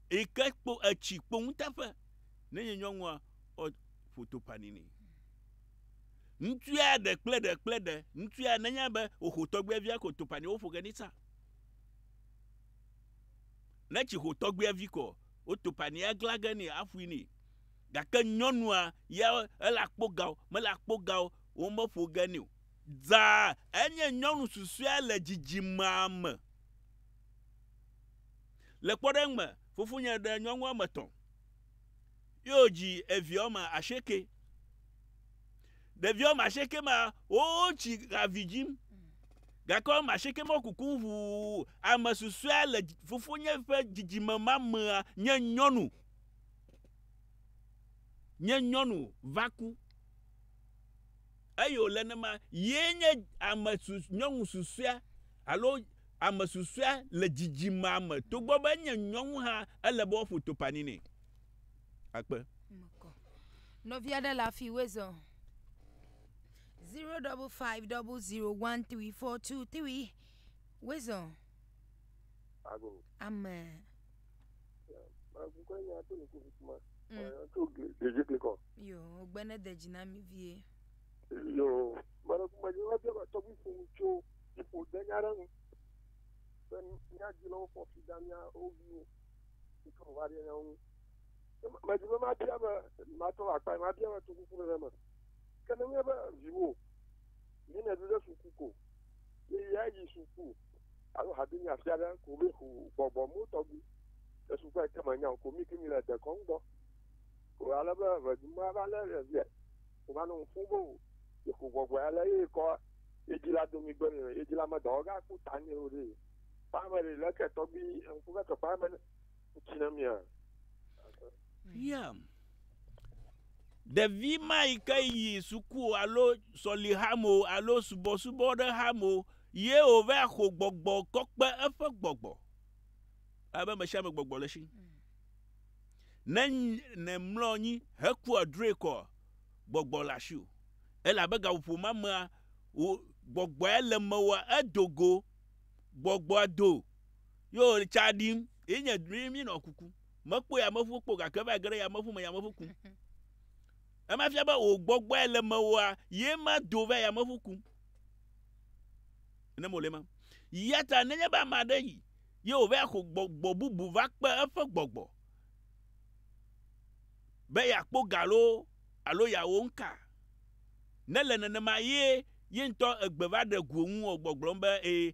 Eyike kpo etsi kpo ŋuteƒe ne nye nyɔnua ɔ ƒoto paninɛ. Ŋutsua ɖe kple ɖe kple ɖe ŋutsua ne nya be oxo tɔgbia via ko topani wo ƒoge nitsa. Ne tsi xo tɔgbia vi kɔ wo topani agla ge ni aƒui ni. Gake nyɔnua ya ele akpo gao mele akpo gao wo me ƒoge ni o. Zã enye nyɔnu susua le dzidzimea me. Le kpɔɖeŋu me, fofonye ɖe nyɔnu woame etɔ̃, ye wòdzi evi woame asieke. Ɖevi woame asieke ma, wotsi ha vi dzim, gake woame asieke ma wokukum ŋu. Ame susɔea le fofonye ƒe dzidzime ma mea nye nyɔnu. Nye nyɔnu va ku. eye wòle ne ma yee nye ame nyɔnu susɔea alo ame susɔea le dzidzimea me togbɔ be enye nyɔnu hã ele be woaƒo topani nɛ. Akpe. Nɔvi aɖe le afi wezɔ. Zero double five double zero one three four two three wezɔ. Amen. Yoo, gbe ne de dzi na mi vie. Yoo, mele ku me yim eƒe tɔgbi fo tso ƒo de nya ɖe nu. Be mía dzi le wofɔ fi da mía wo viwo. Ike wo va ɖe nya nu. Me dzi be ma bia be ma tɔ akpa ma bia be to kuku ɖe me. Ke ne nye be viwo. Yi ne ɖu ɖe suku ko. Yi ya yi suku. Alo habi nya fia ɖe ko mi xu gbɔgbɔ mo tɔgbi. Ɖe suku ete me nya ko mi ki mi le dekɔn gbɔ. Ko ale be ve du ma va le ɖe via. Ko va no fun bo. Yi xu gbɔgbɔ ya le yi kɔ. Yi di la do mi gbe ni. Yi di la me dɔ ga ku ta ni o re. Kpa me re le ke tɔgbi en ku ve ke kpa me ne. ŋuti na mía? Yam. Ɖevi ma yi ke yi suku alo sɔlihame alo subɔsubɔ ɖe hame ye wòva xɔ gbɔgbɔ kɔkpe eƒe gbɔgbɔ. Abe me sia me gbɔgbɔ le si. Mm. Ne ne mlɔ anyi heku adroe kɔ gbɔgbɔ le asi o. Elabe gaƒoƒo ma mea gbɔgbɔa le mewa edogo gbɔgbɔa do Ye wòle tsa ɖim. Ye nye ɖim minɔ kuku. Mekpɔ yameʋu kpɔ gake va ge ɖe yameʋu me yameʋu kum. Ema fia be wò gbɔgbɔe le mewòa, ye ma do va yameʋu kum. Ne mole ma. Ya ta nenye be ame aɖe yi, ye wòva xɔ gbɔgbɔ bubu va kpe eƒe gbɔgbɔ be yeakpɔ ga lo alo yeawɔ nu ka. Ne le nenema ye ye ŋutɔ egbe va ɖe go ŋu wɔ gbɔgblɔm be ee,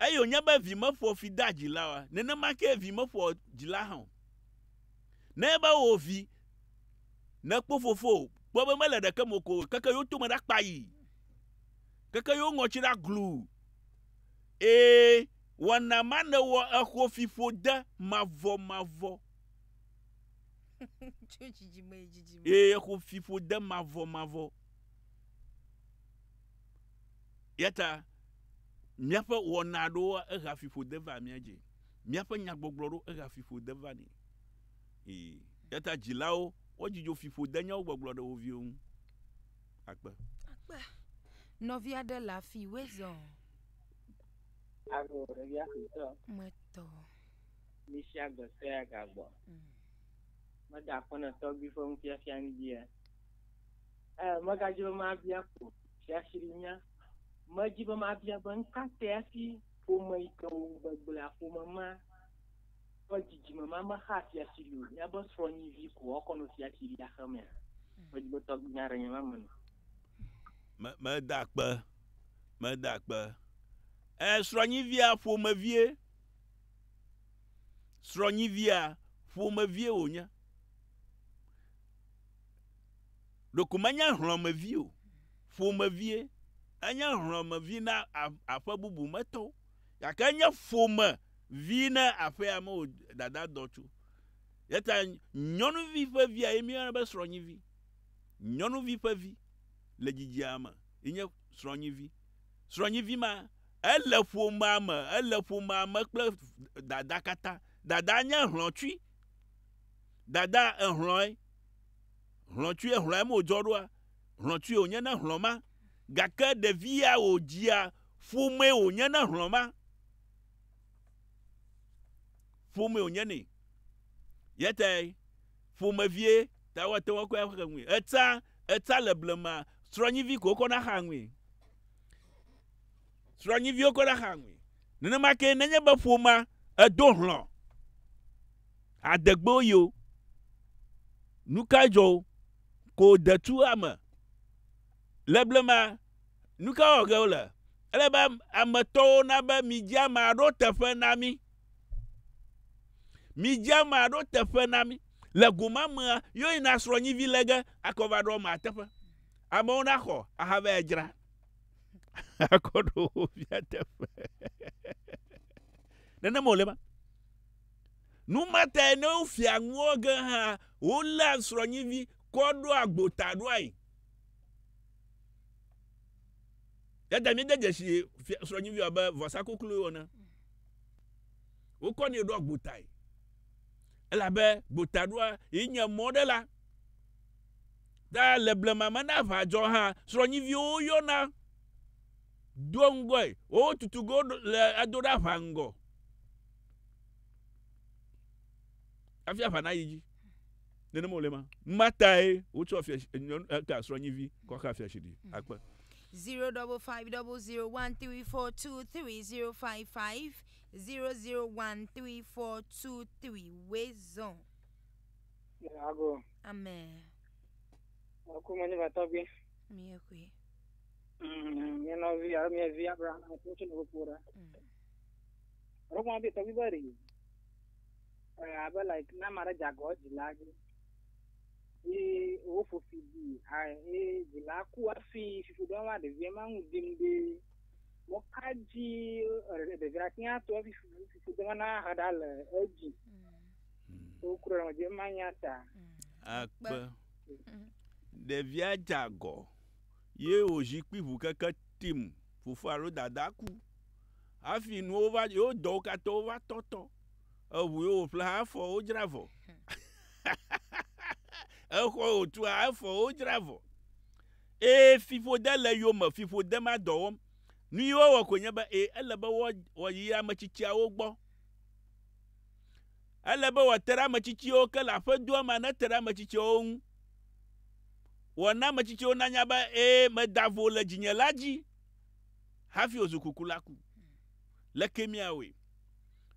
Eye wònye be vi meƒoa fi dea dzila oa? Nenema kee vi meƒoa dzila hã o. Ne ebe wò vi, nèkpɔ fofowò, kpɔ be mele ɖeke me o ko keke yewo tome ɖa kpayi, keke yewo ŋɔtsi ɖa gluu. Ee, wɔna ma nèwɔ exɔ fiƒode mavɔmavɔ. Tso dzidzime yi dzidzime. Ee, exɔ fiƒode mavɔmavɔ. Eyata míaƒe wɔna aɖewo ehea fiƒode vaa mía dzi. Míaƒe nyagbɔgblɔ aɖewo ehea fiƒode vani. Ii. Eyata dzilawo wodzi dzo fiƒodenyawo gbɔgblɔ ɖe wo viwo ŋu. Akpe. Akpe. Nɔvi aɖe le afi wòe zɔ. Ago ɖevia suetɔ. Metɔ. Mi sia gbe sue agagbɔ. Meda aƒenɔtɔgbui ƒe nufiafia ŋu dzia? Ɛɛ, megadi be mabia ko fiafiɖunya. Medi be mabia be nu ka tae hafi ƒome yi ke wò gbegblẽa, ƒome ma ƒe dzidzime ma mexaa fiafiɖu o. Míabe srɔ̃nyivi ko woakɔ nɔ fiafiɖu axe mea? Medi be tɔgbuinya aɖe nye ma me nɔ. Me, meda akpe. Meda akpe. Ɛɛ, srɔ̃nyivia ƒomevie. Srɔ̃nyivia ƒomevie wònye. Ɖeko menye hlɔ̃mevi o, ƒomevie. Enye hlɔ̃mevi na aƒe bubu me tɔwo, gake enye ƒomevi na aƒea me wò dada dɔ tso. Eya ta nyɔnuvi ƒe via ye míeyɔna be srɔ̃nyivi. Nyɔnuvi ƒe vi le dzidzia me ye nye srɔ̃nyivi. Srɔ̃nyivi ma, ele ƒomea me, ele ƒomea me kple dada katã. Dada nye hlɔ̃tsui. Dada ehlɔ̃e. Hlɔ̃tsue hlɔ̃em wòdzɔ ɖoa? Hlɔ̃tsue wònye ne hlɔ̃ ma? Gake ɖevia wòdzia ƒomee wònye ne hlɔ̃ ma? Ƒomee wònye nɛ. Ya tae ƒomevie ta woate ŋu akɔe axe ŋui. Etsã, etsã le blema, srɔ̃nyivi ko wokɔna xea ŋui. srɔ̃nyiviwo koe ɖaxa aŋui. Nenema ke nenye be ƒomea edo hlɔ̃ adegbewo yi o, nu kae dzɔ wo? Ko wòde tu ame. Le blema, nu ka wɔwɔ ge wole? Ele be ame tɔwo na be midzi amea ɖo teƒe na mí. Midzi amea ɖo teƒe na mí. Le go ma mea, yewoyina srɔ̃nyivi lé ge akɔ va ɖo amea teƒe. Amewo naxɔ ahavae adzra. akɔ ɖo wo via teƒe. Nenema wòle ma. Nu ma tae ne wofia nuwo ge hã, woléa srɔ̃nyivi kɔ ɖoa agbo ta ɖoae. Eya ta míede dzesi srɔ̃nyiviwo abe vɔsa kukluwo wɔna. Wokɔnɛ ɖoa agbo tae. Elabe gbotaɖoa ye nye mɔ ɖe la. Ta le blema me ne aʋa dzɔ hã, srɔ̃nyiviwo woyɔna doa ŋgɔe. Wotutu ge le ado ɖe aʋa ŋgɔ hafi aʋa nayi dzi. Nenema wòle ma. Ma tae wotsɔ fia eka srɔ̃nyivi kɔ xa fia siɖi akpe. Zero double five double zero one three four two three zero five five zero zero one three four two three wezɔn. Ago. Amen. Akuma ne batɔgbe. Mie kui. Mm, mie nɔvi alo mie vi Abraham kutu ne kpɔ ɖa. Roma bi tɔgbe bɛ ri. Abe like na ma ɖe dzagɔ dzila dzi. Ye wo fofi di a ye dzila ku afi fifi ɖe ma ɖevia ma ŋu dim ɖe. Mo ka dzi ɖevia tia to afi fifi ɖe ma na ha ɖa le edzi. Wokurɔ dze manya ta. Akpe. Ɖevia dze agɔ ye wòzi kpi ŋu keke tim. Fofoa alo dadaa ku. Hafi nuwo va, yewo dɔwo katã wova tɔtɔ. Eŋu ye wòƒle hã efɔ wodzra vɔ. Exɔ ye wòtu hã efɔ wodzra vɔ. Ee, fiƒode le eyome. Fiƒode ma dɔ wɔm. Nu ye wowɔ koe nye be, ee, ele be woayi ametsitsiawo gbɔ. Ele be wòate ɖe ame tsitsiwo ke le aƒedoa mea nete ɖe ame tsitsiawo ŋu. Wòana ame tsitsiwo nanya be ee, meda vo le dzinye la dzi hafi wòzu kukulaku. Leke míawɔe?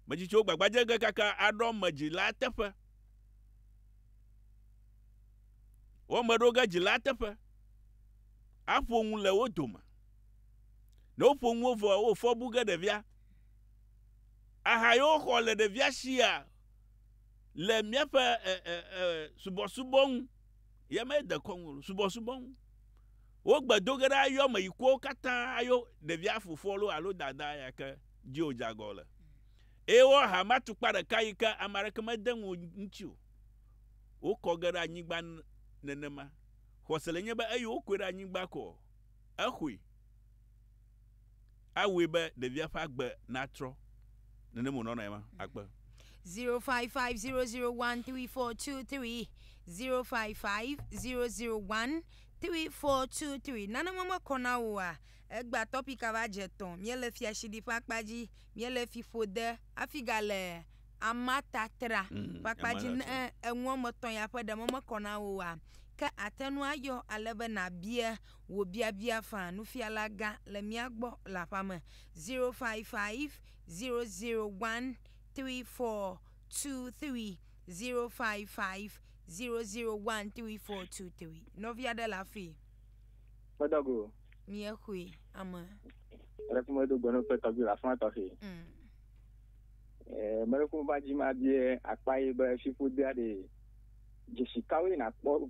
Ame tsitsiwo gbagba dze ge kaka aɖo ame dzilaa teƒe. Wo ame ɖo ge dzilaa teƒe. Aƒo nu le wo dome. Ne woƒo nu wo vɔ, wofɔ bu ge ɖevia. aha yi woxɔ le ɖevia sia le míaƒe subɔsubɔ ŋu. Ye me de kɔnu subɔsubɔ ŋu. Wogbe do ge ɖa yɔ me yi kuwo katã ayo ɖevia fofoa lo alo dadaa ya ke dzi wòdze agɔ le. Eye wo aha ma tukpa ɖeka yi ke ame aɖeke mede ŋu ŋuti o. Wokɔ ge ɖe anyigba nenema. Xɔse le nye be eyi wokɔe ɖe anyigba kɔ exɔe. awɔe be ɖevia ƒe agbe natrɔ. Nenem wònɔ nɔ ema akpe. 0550013423 0550013423 Nane me mekɔ na wò oa? Egbea tɔpik ava dze etɔ̃. Míele fiaɖuɖi ƒe akpa dzi. Míele fiƒode hafi gale amatatra ƒe akpa dzi. Ne enu woame etɔ̃ ya ƒe ɖe me mekɔ na wò oa, ke àte ŋu ayɔ ale be nàbia Wò biabia fã nufiala gã le mía gbɔ le aƒea me 0550013423 0550013423 nɔvi aɖe le afii. Meɖɔ go. Mie xoe. Ame. Aleke ƒe medo gbe ne woƒe tɔgbi le afã tɔxɛ. Mm. Eh, mele ƒom va dzi ma bie akpa ye be fiƒodea ɖe dzesi kawoe na kpɔ.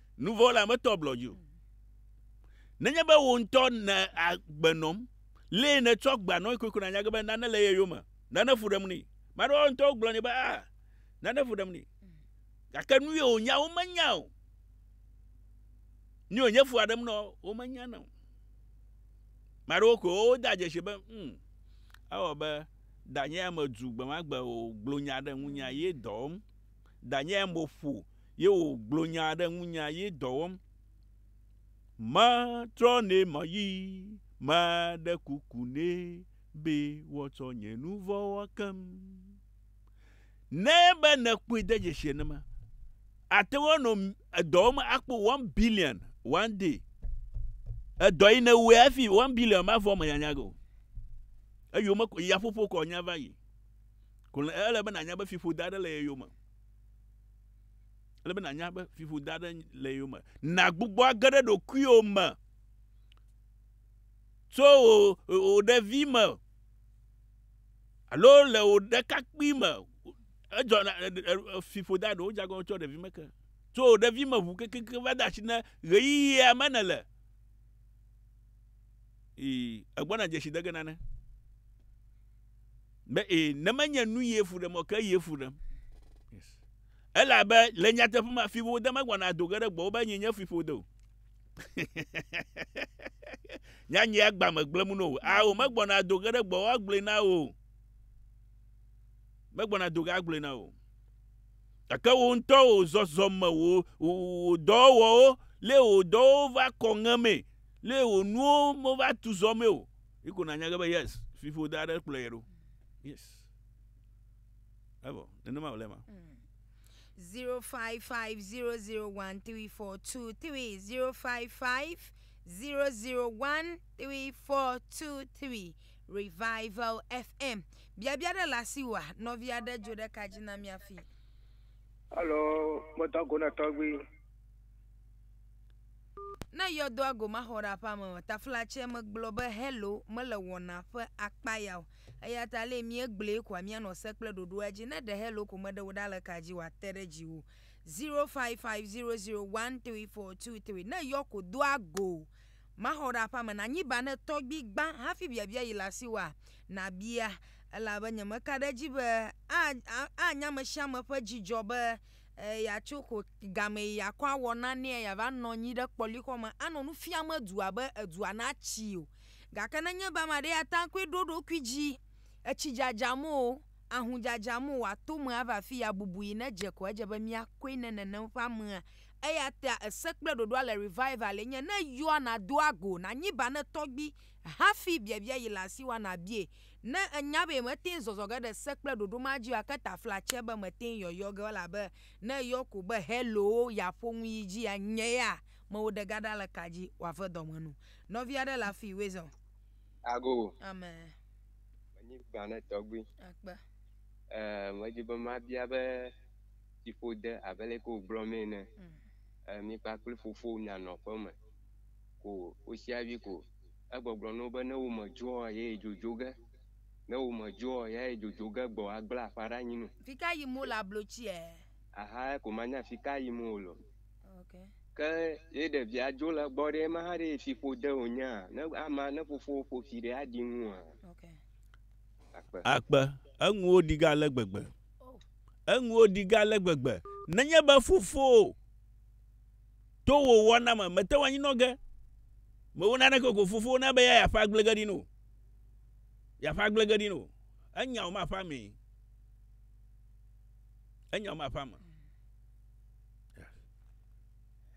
Nuvɔla metɔ blɔ dzi o. Nenye be wò ŋutɔ nè agbe nɔm, lee nètsɔ agbea nɔe koe ko nànya ge be nane le ye yome, nane fu ɖem ni. Ame aɖewo ŋutɔ wogblɔ nɛ be, A, nane fu ɖem ni. Gake nu ye wònya womenya o. Nu ye wònye fua ɖem nɔ womenya na o. Ame aɖewo koe woda dzesi be, Hm, ewɔ abe danye ya medu gbe ma gbe wògblɔ nya ɖe ŋunye ye dɔm. Danyae mo ƒo ye wo gblɔ nya ɖe ŋunya ye dɔ wɔm. Me trɔ nɛ me yi me ɖe kuku nɛ be wɔ tsɔ nye nu vɔ wɔ kem. Ne be ne kpɔe de dzesi ne me ate wɔ nɔ edɔ wɔm akpɔ one billion one day. Edɔ yi ne wɔ afi one billion ma vɔ me nyanya go. Eyo me ko ya ƒoƒo kɔ nya va yi. Ko le ele be nànya be fiƒode aɖe le ye yome. Ele be nànya be fiƒode aɖe le ye yome. Nàgbugbɔ age ɖe ɖokuiwò me tso wò wò ɖevi me alo le wò ɖekakpui me. Edzɔ fiƒode aɖewo dze agɔ tso ɖevi me ke. Tso wò ɖevi me ʋu kekeke va de asi ne ɣeyiɣia me nèle. Ii, egbɔna dzesi de ge nane. Be ee, ne menye nu ye fu ɖem o, ke ye fu ɖem. Elabe le nyateƒe me fiƒode megbɔna ado ge ɖe gbɔwò be nyinye fiƒode o. Nyanye agba megblẽm no o. Ao, megbɔna ado ge ɖe gbɔwò agblɔe na wò o. Megbɔna ado ge agblɔe na wò o. Gake wò ŋutɔ wò zɔzɔme, wò, wò, wò dɔwɔwɔwo, lé wò dɔwo va kɔ ŋemee, lé wò nuwo meva tu zɔ mee o. Yi ko nanya ge be yes, fiƒode aɖe kplɔe ɖo. Yes. Evɔ, nenema wòle ma. Mm. 0550013423 0550013423 Revival FM biabia ɖe le asiwòa nɔvi aɖe dzo ɖe ka dzi na mía fi. Alo meda go na tɔgbui. Ne yɔdoa go maxɔ ɖe aƒea me o, taflatse megblɔ be hello mele wɔna ƒe akpa ya o. Eya ta ale míegblɔe koa míanɔ se kple ɖoɖoa dzi. Ne ɖe hello ko meɖe wò ɖa le ka dzi wòate ɖe dziwò. Zero five five zero zero one three four two three. Ne yɔ ko doa go maxɔ ɖe aƒea me nanyi ba ne tɔgbi gbã hafi biabia yi le asiwòa? Nàbia elabe nyemeka ɖe edzi be aa anya ame sia ame ƒe dzidzɔ be Ee, yeatso ko game yi yeakɔ awɔ nanee yeava nɔ anyi ɖe kpɔlixɔ me anɔ nu fiam edua be edua natsii o. Gake nenye be ame aɖe ya ta ŋkɔe ɖo eɖokui dzi, etsi dzadzam o, ahũ dzadzam o, wòato eme ava afii yeabubu yi ne dze ko edze be míakɔe ne nenem ƒe amea. Eya ta ese kple ɖoɖoa le Revival enye, Ne yɔa, nàdo ago, nànyi banɛ tɔgbi, Hafi biabia yi le asiwòa nàbiae. Ne ènya be mète ŋu zɔzɔ ge ɖe se kple ɖoɖo ma dzi o ake tafla tsɛ be mète ŋu yɔyɔ ge o elabe ne èyɔ ko be heloo yeaƒo nu yi dzia, nye ya mewò ɖe ga ɖa le ka dzi wòave dɔme nu. Nɔvi aɖe le afii wòe zã o. Ago. Amen. Menyi gbã ne tɔgbui. Akpe. Ee, medi be mabia be tsiƒode abe leke wògblɔ mee ene. Ee, mi kpakple fofowò mianɔ aƒeme. ko wosi hafi ko egbɔgblɔ na wo be ne womedzɔa ye dzodzo ge, ne womedzɔa ye dzodzo ge gbɔ agblẽ aƒea ɖe anyi nu. Fika yim wole ablo tsi e. Aha ko manya fika yim wole o. Ok. Ke ye ɖevia dzo le egbɔ ɖe ema hã ɖe ye fiƒo de wonye a? Ne ama ne fofowò ƒo fi ɖe aɖi ŋu a? Ok. Akpe. Akpe, eŋuwo ɖi ge ale gbegbe. Oh. Eŋuwo ɖi ge ale gbegbe. Nenye be fofowò. To wò wɔna me, mète ŋu anyinɔ ge. Mewɔ naneke o ko Fofowò na be eya yeaƒe agble ge ɖi na wò. Yeaƒe agble ge ɖi na wò. Enya wò maƒe amee. Enya wò maƒe ame.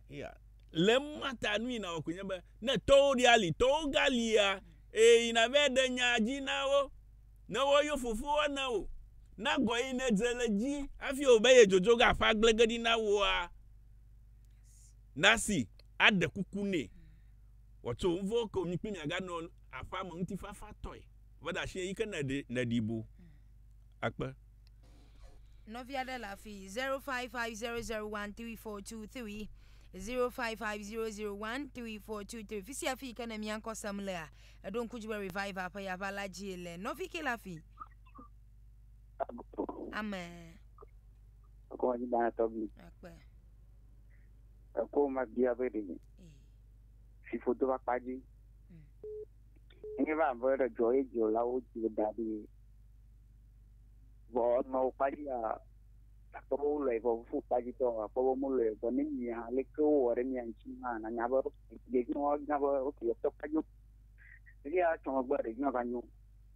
Ya. Le ma ta nu yi nawɔ koe nye be ne tɔwo ɖi ali, tɔwo galia, eye yi nava ɖe nya dzi na wo. Ne woyɔ Fofowòa na wò, na gɔ yi nedze le edzi hafi wòbe yedzodzo ge aƒe agble ge ɖi na wòa, Nasi aɖe kuku nɛ wòatso nu vɔ̃ ke wònyi kple miaganɔ aƒea me ŋutifafatɔe. Eve ɖe asi yi ke nèɖe nèɖi bo akpe. Nɔvi aɖe le afi zero five five zero zero one three four two three zero five five zero zero one three four two three fi sia fi yi ke ne mia ŋkɔ sem lea eɖo ŋku dzi be revival ƒe yava la dzie le nɔvi ke le afi. Amen. Ekɔ ma bia tɔgbi. Akpe. Ekɔ ma bia be ɖe. Si foto va kpa dzi. Nye va be ɖe dzɔ ye dzɔ la wo dzi da ɖi. Vɔ nɔ wo kpa dzi a akpɔ wo lɔ vɔ fu kpa dzi tɔ akpɔ wo mo lɔ vɔ ne mi ha le ke wo wɔ ɖe mi ŋtsi ma na nya be ɖe dzi wo nya be o ke tɔ kpa dzi. Ɖe ya tɔ gbe ɖe dzi ma va nyo.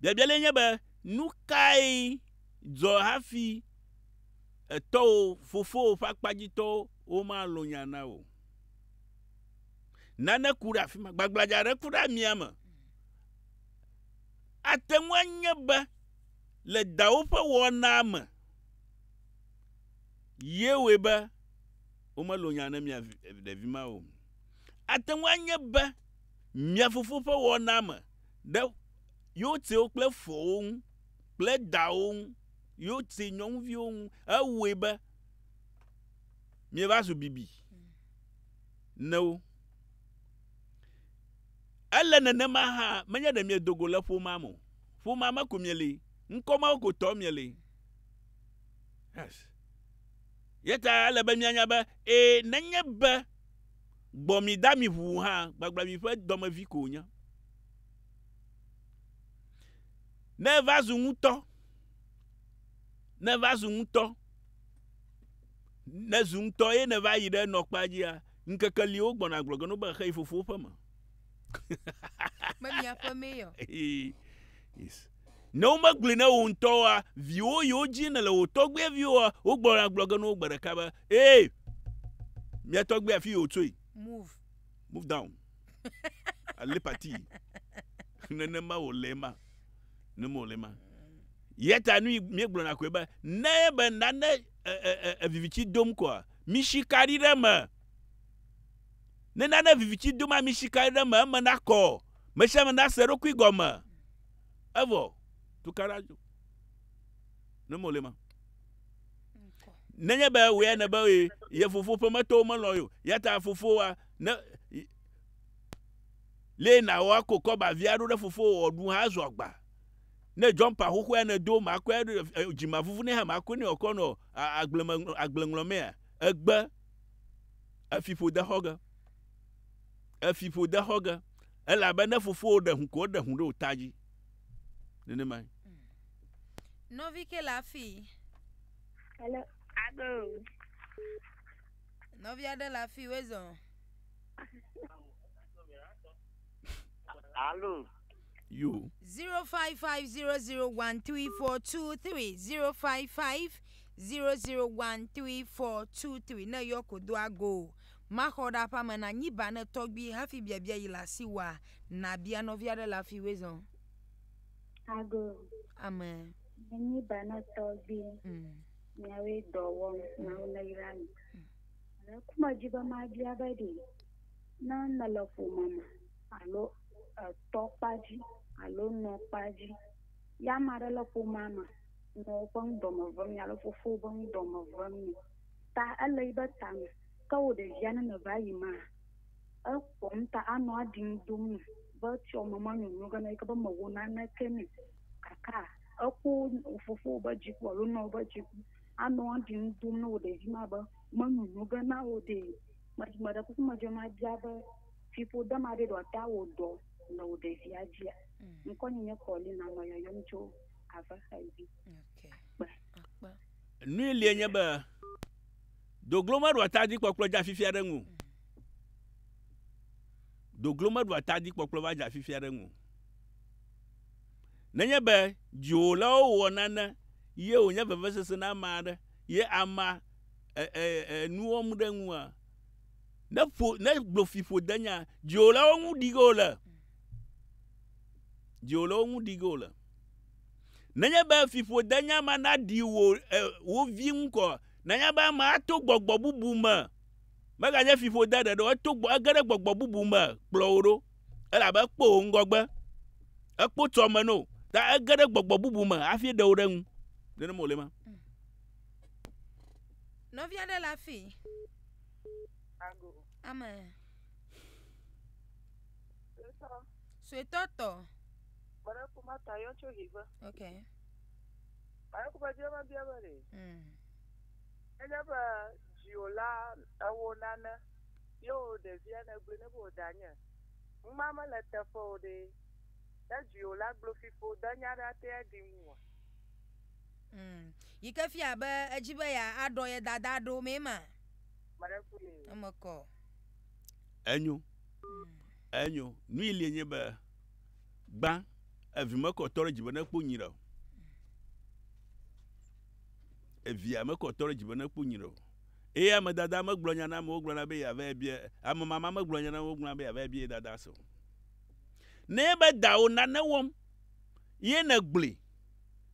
Biabia lae nye be, nu kae dzɔ hafi etɔwò, fofowò ƒe akpa dzi tɔwo womalɔ̃ nya na wò? Nane ku ɖe afi ma, gbagbladza aɖe ku ɖe amia me. Ate ŋu anye be le dawò ƒe wɔnaa me ye wɔe be womelɔ̃ nya na mia ɖevi ma o. Ate ŋu anye be mia fofo ƒe wɔnaa me ɖe Yotsewo kple fowo ŋu kple dawò ŋu, Yotse nyɔnuviwo ŋu, ewɔe be mieva zu bibi na wo. Ele nenema hã, menye ɖe miedo go le ƒomea me o. Ƒomea me ko mieli, ŋkɔ mawo ko tɔ mieli. Yes. Yeta ele be mianya be, ee, nenye be Gbɔ mi da mi ʋuu hã, gbagbla mi ƒe dɔmevi ko wònye. Ne eva zu ŋutɔ, ne eva zu ŋutɔ, ne zu ŋutɔ ye nèva yi ɖe nɔkpea dzia, ŋkeke li wogbɔna gblɔ ge no be xeyi fofowo ƒe me. Me miaƒe mee yɔ. Ee, yes. Ne womegblɔe na wò ŋutɔ oa, viwò yiwo dzie nèle wò tɔgbuiviwoa, wogblɔna agblɔ ge na wo gbe ɖeka be, Ee, mía tɔgbui afi yi wòtsoe. Move. Move down. Allez partir. Nenema wòle ema. Nenema wòle ema. Eya ta nu míegblɔna koe be, ne be nane viviti dom koa, misi kaɖi ɖe eme. Ne nane viviti dom a, misi kaɖi ɖe eme, eme nakɔ. Me sia me nase eɖokui gɔme. Evɔ tukaɖa dzo. Ne mole ma. Nenye be wòe ne be ye fofo ƒe metɔwo melɔ̃ ye o. Yata fofowa ne lee nawɔ ako kɔba via ɖo ɖe fofo wɔ ɖu hã zɔ agba. Ne jɔmpa xoxoa ne do ma kɔe dzima vuvu ne hã ma kɔe ne wòkɔ nɔ agbleme agble ŋlɔmea egbe efiƒode xɔge. Èfi ƒo de xɔ ge. Elabe ne fofowò ɖe hũ ko, eɖe hũ ɖe wò ta dzi. Nenemae. Nɔvi ke le afii. Hello. Ado. Nɔvi aɖe le afii wezɔ. Alo. Yo. 0550013423 0550013423 ne yɔ ko do ago. Maxɔ ɖe aƒea me na nyi ba ne tɔgbui hafi biabia yi le asi wòa na bia nɔvia ɖe le afi we zɔn. Ago. Ame. Ne nyi ba ne tɔgbui. Mm. Nyawe dɔ wɔm na wo ne yra mi. Mm. Le kuma dzi be ma bia be ɖi ne ne le ƒome me alo etɔ kpadzi alo nɔ kpadzi ya ma ɖe le ƒomea me nɔ wo ƒe ŋdɔ me vem ya le fofo be ŋdɔ me vem ta ele yi be ta me. Ke wò ɖevia ne meva yi ma, ekpɔm ta anɔ aɖiŋu dom nu be tsyɔ me manyonyo ge na yi ke be mewɔ naneke nɛ gake ekpɔ wò fofowo be dziku alo nɔwo be dziku anɔ aɖiŋu dom ne wò ɖevi ma be menyonyo ge na wò ɖee. Me, meɖe kuku medzɔe mabia be fiƒode ma ɖe ɖewoate awɔ dɔ le wò ɖevia dzia? Ŋkɔnye nye Paulina, nɔ yɔyɔm tso Avexavi. Akpe. Nui lie nye be, Doglo meɖua ta dzi kpɔkplɔ dza fifia ɖe ŋu. Doglo meɖua ta dzi kpɔkplɔ va dza fifia ɖe ŋu. Nenye be dziwòlawo wɔ nane ye wònye vevesese na ame aɖe ye amea e, e, e, nu wɔm ɖe ŋua, ne ƒo ne gbofiƒodenya dziwòlawo ŋu ɖi ge wòle. Dziwòlawo ŋu ɖi ge wòle. Nenye be fiƒodenya ma naɖi wò e, wo vi ŋu kɔ Nanya be amea to gbɔgbɔ bubu me, meganye fiƒode ɖeɖe o, eto gbɔ, ege ɖe gbɔgbɔ bubu me kplɔ wò ɖo, elabe ekpɔ wò ŋgɔgbe, ekpɔ tso ame no, ta ege ɖe gbɔgbɔ bubu me hafi ɖe wò ɖe ŋu. Nenema wòle ema. Nɔvi aɖe le afii. Ame. Suetɔ tɔ. Kpɔɖe ƒomata yɔ tso hive. Okay. Aye ku bɛdi ema bia bɛ ɖe. Enye bɛ jiwo la ewo nane yewo ɖevia ne gbe ne bo danye. Ŋma me le teƒe o ɖe. Ne jiwo la glo fipo de nya ɖe ate ya di ŋu wa. Yike fia be edzi be ya aɖɔ ye dada ɖo me ma. Mare ku ye. Eme kɔ. Enyo. Enyo. Nui lie nye be. Gbã, evi mekɔ tɔ ɖe dzi be ne kpɔ nyuiɖe o. Evia mekɔ tɔ ɖe dzi be ne kpɔ nyuiɖe o. Eye ame dada megblɔ nya na amewo gblɔna be yeava ebia, ame mama megblɔ nya na amewo gblɔna be yeava ebia ye dada se o. Ne ebe dawò nane wɔm, ye nègblɔe,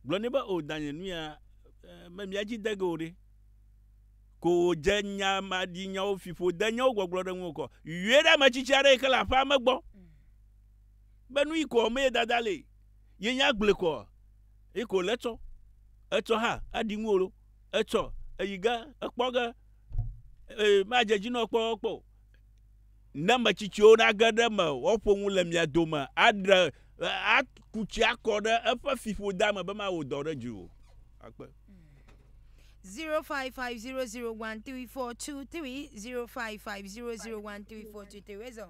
gblɔ nɛ be, O danye, nu ya eh, me mía dzi de ge o ɖe. Ko wòdze nya maɖinyawo, fiƒodenyawo gbɔgblɔ ɖe ŋuwò kɔ. Yɔe ɖe ametsitsi aɖe yi ke le aƒea me gbɔ. be nu yi kɔ me dada le ye nya gble kɔ yi ko le tsɔ etsɔ ha adi ŋu lo etsɔ eyi ge ekpɔ ge e ma je dzi nɔ kpɔ kpɔ ne me tsitsiwo na ge ɖe me woƒo ŋu le mia dome aɖe akutsi akɔ ɖe eƒe fiƒo da me be ma wo dɔ ɖe dzi o akpe 0550013423 0550013423 Razor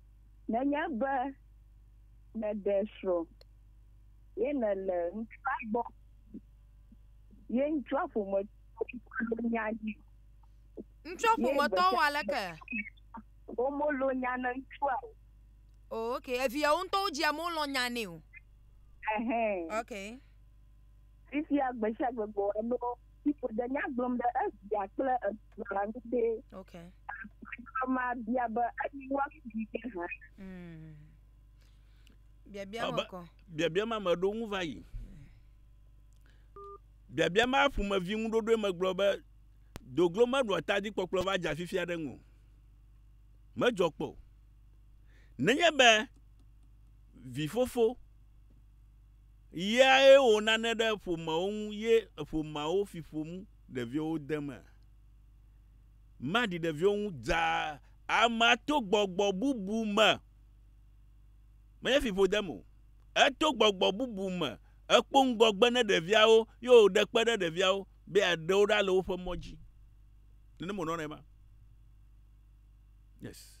Nenye be nèɖe srɔ̃ ye nèle ŋutsua gbɔ ye ŋutsua ƒometɔwo melo nya nɛ o. Ŋutsua ƒometɔwo wɔ aleke? Womelo nya ne ŋutsua o. O ok, eviawo ŋutɔwo dzia mɔ lɔ nya nɛ o. Ɛhɛn. Ok. Fifia gbesiagbe gbɔwɔ lɔ. si ƒoɖe nya gblɔm ɖe evia kple esrɔ̃a ŋu be, okay. Agbalẽxɔlɔ̃ ma bia be, Anye woakuvi ke hã? Mm. Biabia ma kɔ. Biabia ma meɖo ŋu va yi. Biabia ma ƒomevi ŋuɖoɖoe megblɔ be, Doglo meɖoa ta dzikpɔkplɔ va dza fifi aɖe ŋu. Medzɔ kpɔ. Nenye be vifofo Yae wɔ nane ɖe ƒomeawo ŋu ye ƒomeawo fi ƒo ŋu ɖeviwo de me. Maɖi ɖeviwo ŋu dza amea to gbɔgbɔ bubu me. Menye fi ƒo dem o. Eto gbɔgbɔ bubu me. Ekpɔ ŋgɔgbe ne ɖeviawo ye wòɖe kpe ɖe ɖeviawo be yeaɖe wo ɖa le woƒe mɔ dzi. Nenema wònɔnɛ ma. Yes.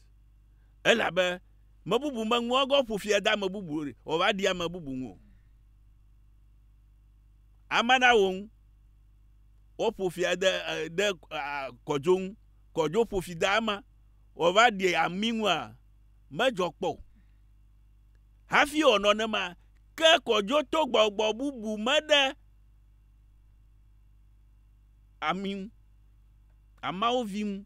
Elabe mebubu meŋu egɔ ƒo fi ede ame bubu wòva ɖi ame bubu ŋu o. Ame na wo ŋu. Woƒo fi ede ede kɔdzo ŋu. Kɔdzo ƒo fi de ama wòva ɖi ami ŋua medzɔ kpɔ o. Hafi wɔ nɔnema ke kɔdzo to gbɔgbɔ bubu me ɖe ami ŋu. Amawo vi ŋu.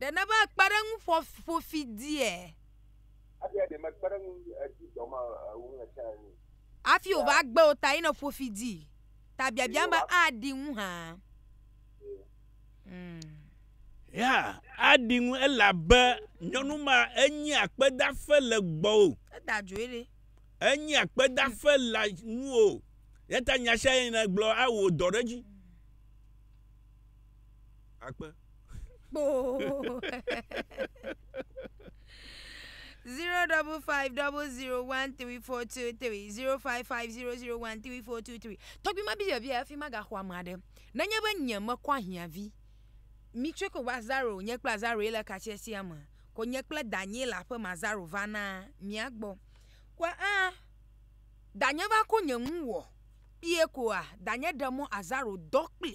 Ɖe nèbe kpeɖeŋu ƒo ƒo fi diɛ? Hafi wòva gbe wò ta ye nèƒo fi dii ta biabiam be aɖi ŋu hã. Ya aɖi ŋu elabe nyɔnu ma enye akpedaƒe le gbɔwò. Eda dzoe ɖe. Enye akpedaƒe le nuwò. Yata nya sia nya nègblɔ awɔ dɔ ɖe edzi. Akpe. Kpoo. zero double five double zero one three four two three zero five five zero zero one three four two three. Tɔgbi ma biabia efi ma gaxɔ ame aɖe. Nenye be nye mekɔ ahiãvi. Mi tsɔe ko va zaro nye kple azaro ye le katsiatsia me. Ko nye kple danye le aƒe me azaro va na mia gbɔ. Ko aa danye va ko nye nu wɔ. kpie koa danye ɖe mɔ azaro dɔ kpli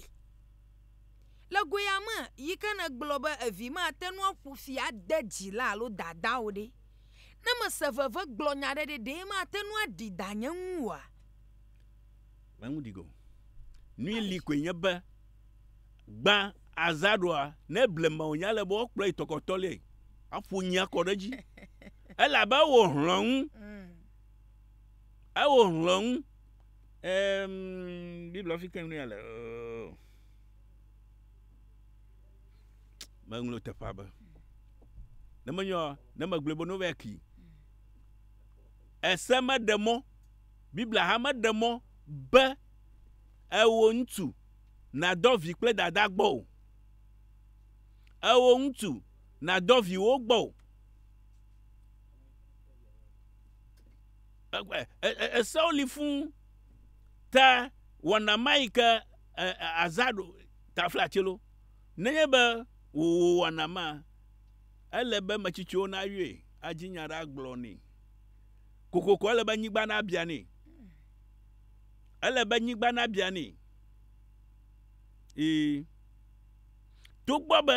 le goya me yike ne gblɔ be evi ma tenu aƒu fi ade dzila alo dada o ɖe ne mese veve gblɔ nya ɖe ɖe ɖe matenu aɖi danye ŋu oa menu ɖigo nui li koe nye be gbã azaroa ne blema o nya le be wokplɔ yi tɔkɔtɔ le aƒu nyia kɔ ɖe dzi elabe wo hlɔnu mm. ewo hlɔnu Eem, Biblia fi keŋ nea le. Oh. Meŋlo teƒea be. Ne menyɔ, ne megblɔe be nova ki. Ese meɖe mɔ, Biblia hã meɖe mɔ be ewò ŋutsu nadɔ vi kple dada gbɔ o. Ewò ŋutsu nadɔ viwo gbɔ o. Esewo li fũ ta wɔna ma yi ke azã ɖo tafla tsilo. Nenye be wò wò wɔna ma, ele be me tsitsiwo na yɔe, adzi nya ɖe agblɔ nɛ. Kokoko ele be nyigba na bia nɛ. Ele be nyigba na bia nɛ. Ii. To gbɔ be,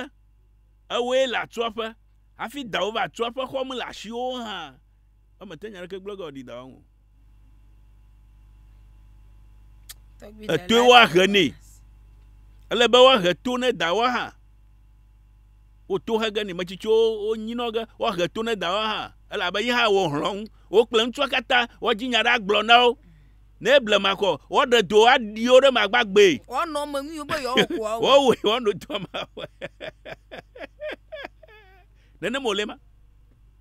ewoe le atsua ƒe, hafi dawò va atsua ƒe xɔm le ashiwo hã. Eme te nya ɖeke gblɔ ge wòaɖi dawɔm o. Etoe woahe nɛ. Ele be woahe to ne dawa hã. Woto he ge nɛ. Metsitsiwo wonyinɔ ge woahe to ne dawa hã. Elabe yi hã wɔ hlɔ̃ ŋu. Wo kple ŋutsua katã woadzi nya ɖe agblɔ na wo. Ne blema kɔ, woaɖe do aɖi wo ɖe magba gbee. Woanɔ me nyuiwo be yewoawɔ kua wo. Woawɔe woanɔ doa me. Nenem wòle ma.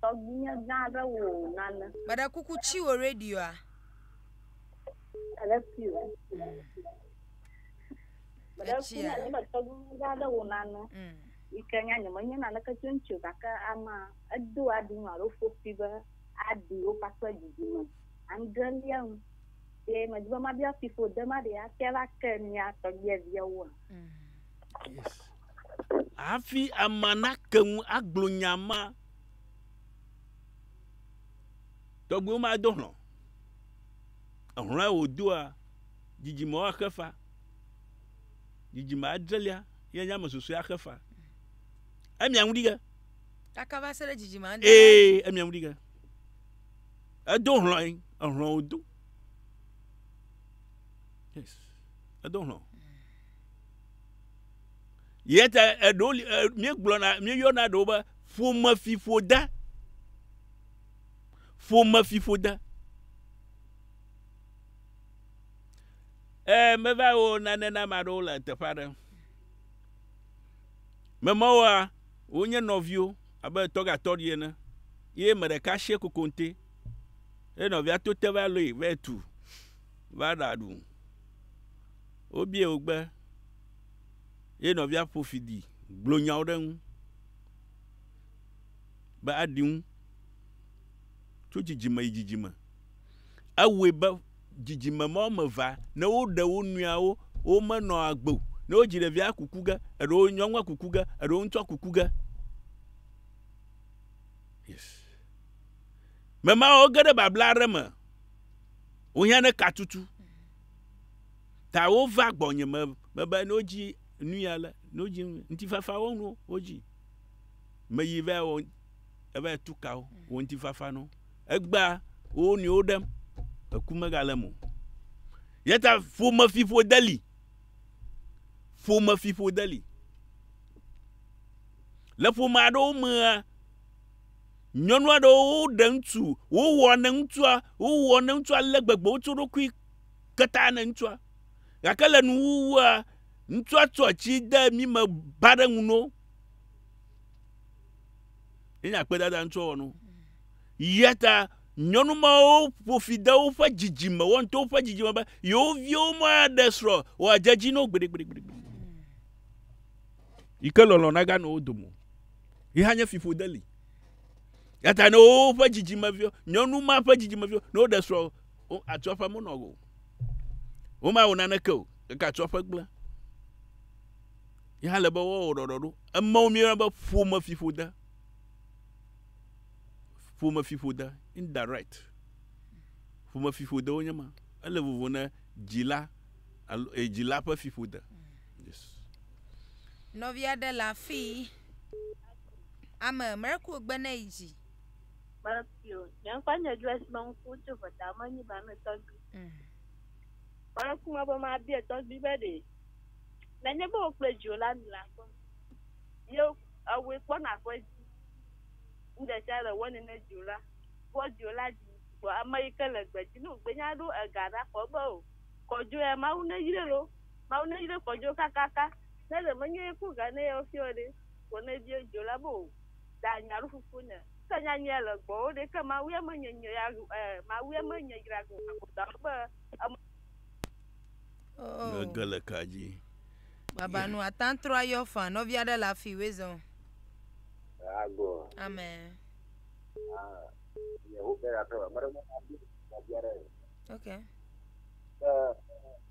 Tɔgbuinyɛ gã aɖe wò nane. Meɖe kuku tsi wò radioa. Eɖe tsi wò. Meɖe kuku na nye tɔgbuinyɛ gã aɖe wò nane. Yi ke nya nye menye naneke tso eŋuti o gake ama edo aɖi nu alo ƒo fi be aɖi wo kpakple didime adrelia nu. Ye medi be mabia fiƒode ma ɖe atia va ke mia tɔgbuiviawoa? Hafi amea nate ŋu agblɔ nya ma, tɔgbuiwo mado hlɔ̃. Ehlɔ̃e wòdoa, dzidzime woaxe fa. Dzidzime adrelia ye nye ame susɔe axe fa. Emia ŋu ɖi ge. Kaka va se ɖe dzidzime adrelia. Ee, emia ŋu ɖi ge. Edo hlɔ̃e, ehlɔ̃ wòdo. Yes, edo hlɔ̃. Yɛ ta eɖewo li e, míegblɔna míeyɔna ɖewo be ƒomefiƒode. Ƒomefiƒode. E, meva wɔ nane na ame aɖewo le teƒe aɖe. Memawoa, wonye nɔviwo abe tɔgatɔɖi ene. Ye me ɖeka sie kokonte. Ye nɔvia to te va lɔe va tu va ɖaɖu. Wobiae wo gbe eye nɔvia ƒo fi di gblɔ nyawo ɖe eŋu be aɖi ŋu tso dzidzime yi dzidzime. Ewɔe be dzidzime ma wɔme evea, ne woɖe wo nɔewo, womenɔ agbe o. Ne wodzi ɖevia kuku ge, eɖewo nyɔnua kuku ge, eɖewo ŋutsua kuku ge. Yes. Memawo ge ɖe babla aɖe me. Wohiã ne katutu. Ta wova gbɔnye me mebe ne wodzi nui ale, ne wodzi ŋutifafa wo nuwo wodzi. Meyi va wɔ eva tu ka wo, wɔ ŋutifafa no. Egbea wo nɔewo ɖem, eku megale mo. Yeta ƒome fiƒo deli. Ƒome fiƒo deli. Le ƒome aɖewo mea, Nyɔnu aɖewo woɖe ŋutsu, wowɔ ne ŋutsua, wowɔ ne ŋutsua ale gbegbe, wotso ɖokui keta ne ŋutsua. Gake le nuwuwua, ŋutsua tsɔ atsi de mi me ba ɖe ŋu no. Enye akpedada ŋutsua wɔ no. Ya ta nyɔnu mawo ƒo fi de woƒe dzidzime, woawo ŋutɔ woƒe dzidzime be yewo viwo maɖe srɔ̃ wòadze edzi no gbeɖegbeɖegbeɖe. yi ke lɔlɔ̃ naganɔ wo dome o. Yi hã nye fiƒode li. Yata ne woƒe dzidzimeviwo, nyɔnu ma ƒe dzidzimeviwo, ne woɖe srɔ̃, atsɔ ƒe menɔ o. Womawɔ naneke o, gake atsɔ ƒe gblẽ. Yi hã le be woawɔ ɖɔɖɔɖo. Emewo míeyɔna be ƒome fiƒode. Ƒome fiƒode, indirect. Ƒome fiƒodewo nye ma. Ele vovo ne dzila alo eh, dzila ƒe fiƒode. Nɔvia ɖe le afii. Ame miracle gbe ne yi dzi. Miracle, nye ŋkɔ nye Joyce be ŋku tso vɔta me nyi ba me tɔgbi. Mm. Miracle me be ma bia tɔgbi be ɖe. Ne nye be wokple dzio la mi la kpɔ. Ye ewe kpɔ na ƒe dzi. Nde sia le wo ne ne dzio la. Wo dzio la dzi. Bo ame yi ke le gbe dzi no gbe nya ɖo ega ɖa kɔ be o. Kɔ dzo ya ma wo ne yire lo. Mawu ne yire kpɔ dzo kakaka. Ne ɖe menye ye ku ga ne yeo fio ɖe, ko ne bie dzo la bo. Da nya ɖo fufu ne. Ke nya nye le gbɔ wo ɖe ke Mawu ye me nye nye ya gu eh Mawu ye me nye yira gu ago da wo be em. Oh. Ne ge le ka dzi. Baba nu atan trɔ ayɔ fan nɔvi aɖe le afi we zɔn. Ago. Amen. Ah. Ye wo ke ya trɔ. Mare mo abi abi aɖe. Okay. Eh.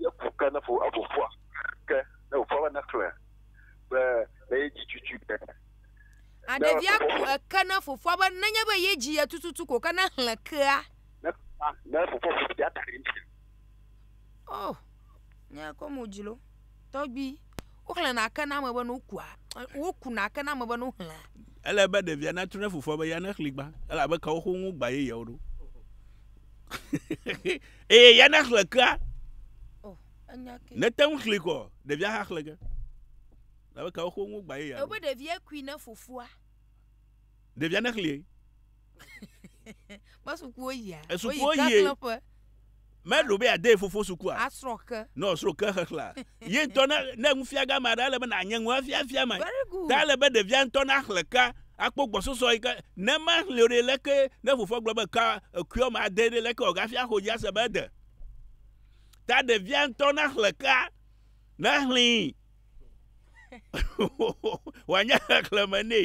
ne ku ke ne ƒo eƒo ƒua ke ne wòƒua be nexlẽ be ne yedzi tutu ke. A ɖevia ku eke ne fofoa be nenye be yedzi ye tututu ko ke nexlẽ kea. Ne fofoa ne fofoa ƒo ɖia ta ɖe ŋuti. Oh, nyakɔ mo dzilo. Tɔgbui, woxlẽna ke na ame be ne wokua, wokuna ke na ame be ne woxlẽa. Ele be ɖevia natu ɖe fofoa be ya nexli gbã, elabe kewo xo ŋu gbã yeyeawo ɖo. Eye ya nexle kea, Oh, enya ke. nete ŋu xli kɔ, ɖevia hã xle ke. Elabe kewo xo ŋu gbã yeyeawo Ebe ɖevia kui ne fofoa. Ɖevia nexlie. Me sukuwo yia. Esukuwo yie. Meɖo be ade fofo sukua. Asrɔ ke. No srɔ ke xexlea. Ye ŋutɔ ne ne nufia gã ma ɖe ale be na nye ŋua fia fia ma. Very good. Ta ale be ɖevia ŋutɔ na xle ka akpɔ gbɔsɔsɔ yi ke ne ma xle o ɖe leke ne fofoa gblɔ be ka ekuiɔ ma ade ɖe leke o gafia xo dzi ase be ede. Ta ɖevia ŋutɔ na xle ka na xlẽe. wòanye xexlẽme nɛ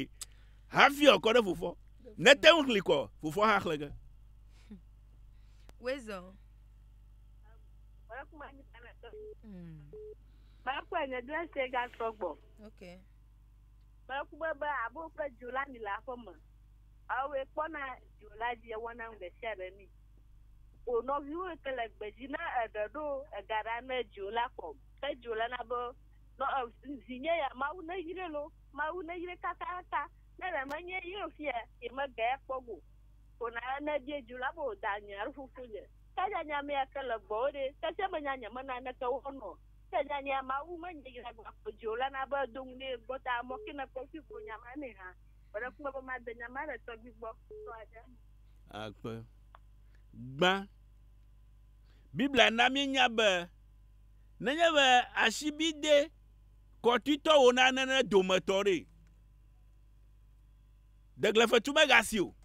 hafi wòakɔ ɖe fofoa nete ŋu xli kɔ fofoa hã xlẽ ge. Wezɔ. Mekpɔe nye dɔ ese gasɔ gbɔ. Mekpɔe be abo kple dzo la mi le aƒe me. Awoe kpɔna dzo la dzi ewɔna nu ɖe sia ɖe mi. O nɔviwo ke le gbedzi ne eɖe ɖo ega ɖa ne dzo la kɔ. Petro lena be, Nɔ, ɛ, vinye ya, Mawu neyre lo, Mawu neyre kakaka, nele menye yre o fia, yi mege ya kpɔ go. Ko na ne bie dju la be o da nye alo fofo nye. Ke nya nya mea ke le gbɔ wo ɖe, ke tse menya nye me na neke wo nɔ. Ke nya nya Mawu me nye yre agba kpɔ dju o lena be edo ŋu ne gbɔ ta mɔ ke ne kpɔ fi gbo nya ma ne ha. Gbeɖe kpɔ be ma de nya ma ɖe tɔgbi gbɔ tɔ aɖe me. Akpe. Gbã. Biblia na mi nya be nenye be asibidɛ kɔtoetɔ wò na nene dometɔ ɖe. Deglefetu megasi o.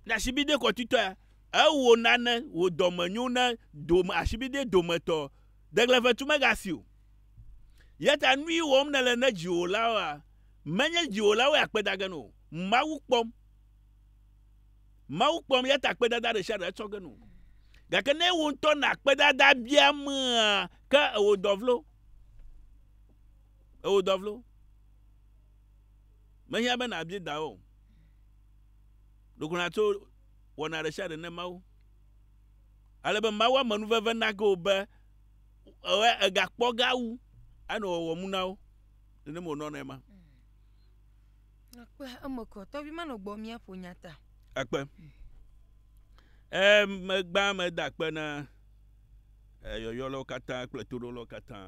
Ne asibidɛ kɔtoetɔ ya, ewò nane wò dɔme nyo ne dome asibidɛ dometɔ. Deglefetu megasi o. Yeta nui wɔm nele ne dziwòlawoa? Menye dziwòlawoe akpedage no o. Mawu kpɔm. Mawu kpɔm, ya ta kpedada ɖe sia ɖe etsɔ ge no. Gake ne wò ŋutɔ na kpedada biamea, ke ewò dɔ vlo. Ewò dɔ vlo. Mehiã be nàbi dawò o. Ɖo ko nàtso wɔna ɖe sia ɖe ne Mawu. Ale be Mawu ame nuveve nage wò be egakpɔ ge awu anɔ wɔwɔmu na wo. Nenema wònɔnɛ ema. Ekpe eme kɔ. Tɔvi manɔ gbɔ míaƒo nya ta. Ekpe. E megbã meda kpe na yɔyɔlawo katã kple toɖolawo katã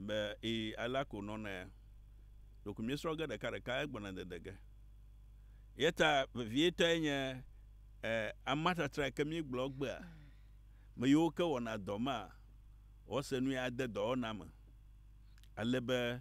be e ala ko nɔna ya. Ɖeko míesrɔ̃ ge ɖeka ɖeka egbɔna dede ge. Yeta vevietɔe nye e amatatra ke míegblɔ gbea. Me yiwo ke wɔna dɔ ma wɔse nu ya ade dɔwɔna me ale be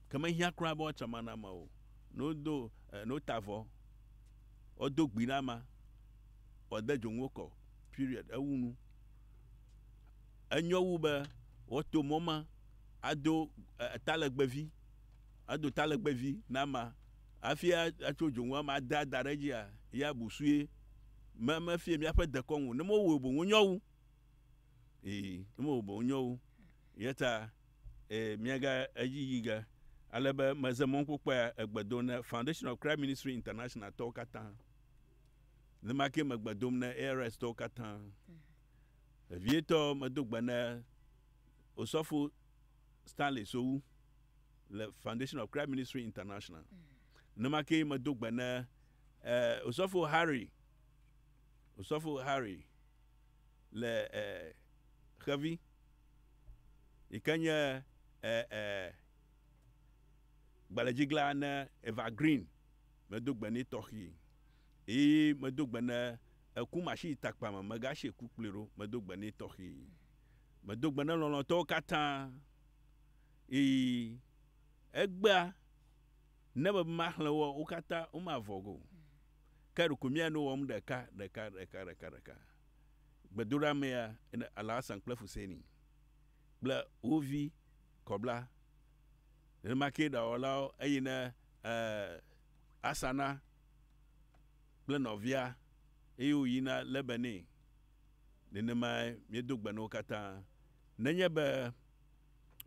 Ke mehiã kura be woatsɔ mana me o, ne wodo, e, ne wota avɔ, woado gbi ɖe ama, woade dzonu wo kɔ, period, ewu nu. Enyo wu be woato mɔ ma ado, e, talegbevi, ado talegbevi na ama hafi a, atso dzonu ama ade ada ɖe edzia, ya busue. Me, mefia míaƒe dekɔnu o. Ne mewɔe o boŋ wonyo wu. Ii, ne mewɔe o boŋ wonyo wu. Eyata Ee, míege edzi yi ge ale be meze mɔnukpokpɔea egbe dom ne Foundation of Christ Ministry International tɔwo katã. Ne ma kee megbe dom ne ARS tɔwo katã. Vevietɔ medo gbe ne Osɔfo Stanley Sowu le Foundation of Christ Ministry International. Ne ma kee medo gbe ne eh, Osɔfo Harry, Osɔfo Harry le e xevi yi ke nye e e gbalẽdzigla ne Eva Green medo gbe nɛ tɔxii yi medo gbe ne eku machine takpa me megasi ku kplii ɖo medo gbe nɛ tɔxii. Medo gbe ne lɔlɔ̃tɔwo katã yi egbea ne be maxlẽ wo wo katã womavɔ ge o. Ke ɖeko mía nu wɔm ɖeka, ɖeka, ɖeka, ɖeka, ɖeka. Gbedoɖamea, ene, Alhassan kple Fuseini, kple wo vi, kɔbla. Nenema kee ɖawɔlawo, eyi ne, ɛɛ, Asana kple nɔvia, eye wòyina Lebanee. Nenemae míedo gbe na wo katã. Nenye be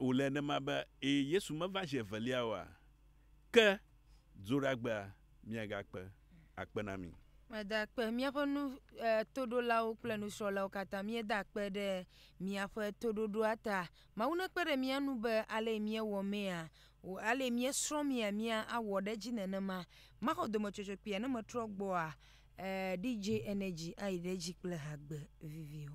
wòle nenema be, ɛɛ, Yesu meva zi evelia oa? Ke dzoɖagbea miagakpe akpe na mí. Meda akpe míaƒe nu, e, toɖolawo kple nusrɔ̃lawo katã. Míeda akpe ɖe miaƒe toɖoɖoa ta. Mawu nekpe ɖe mía nu be alee míewɔ mea, wò, alee míesrɔ̃ mea, mía awɔ ɖe edzi nenema. Maxɔ dometsɔtsɔ kpuia ne metrɔ gbɔa? E, DJ Energy ayi ɖe edzi kple hagbe viviwo.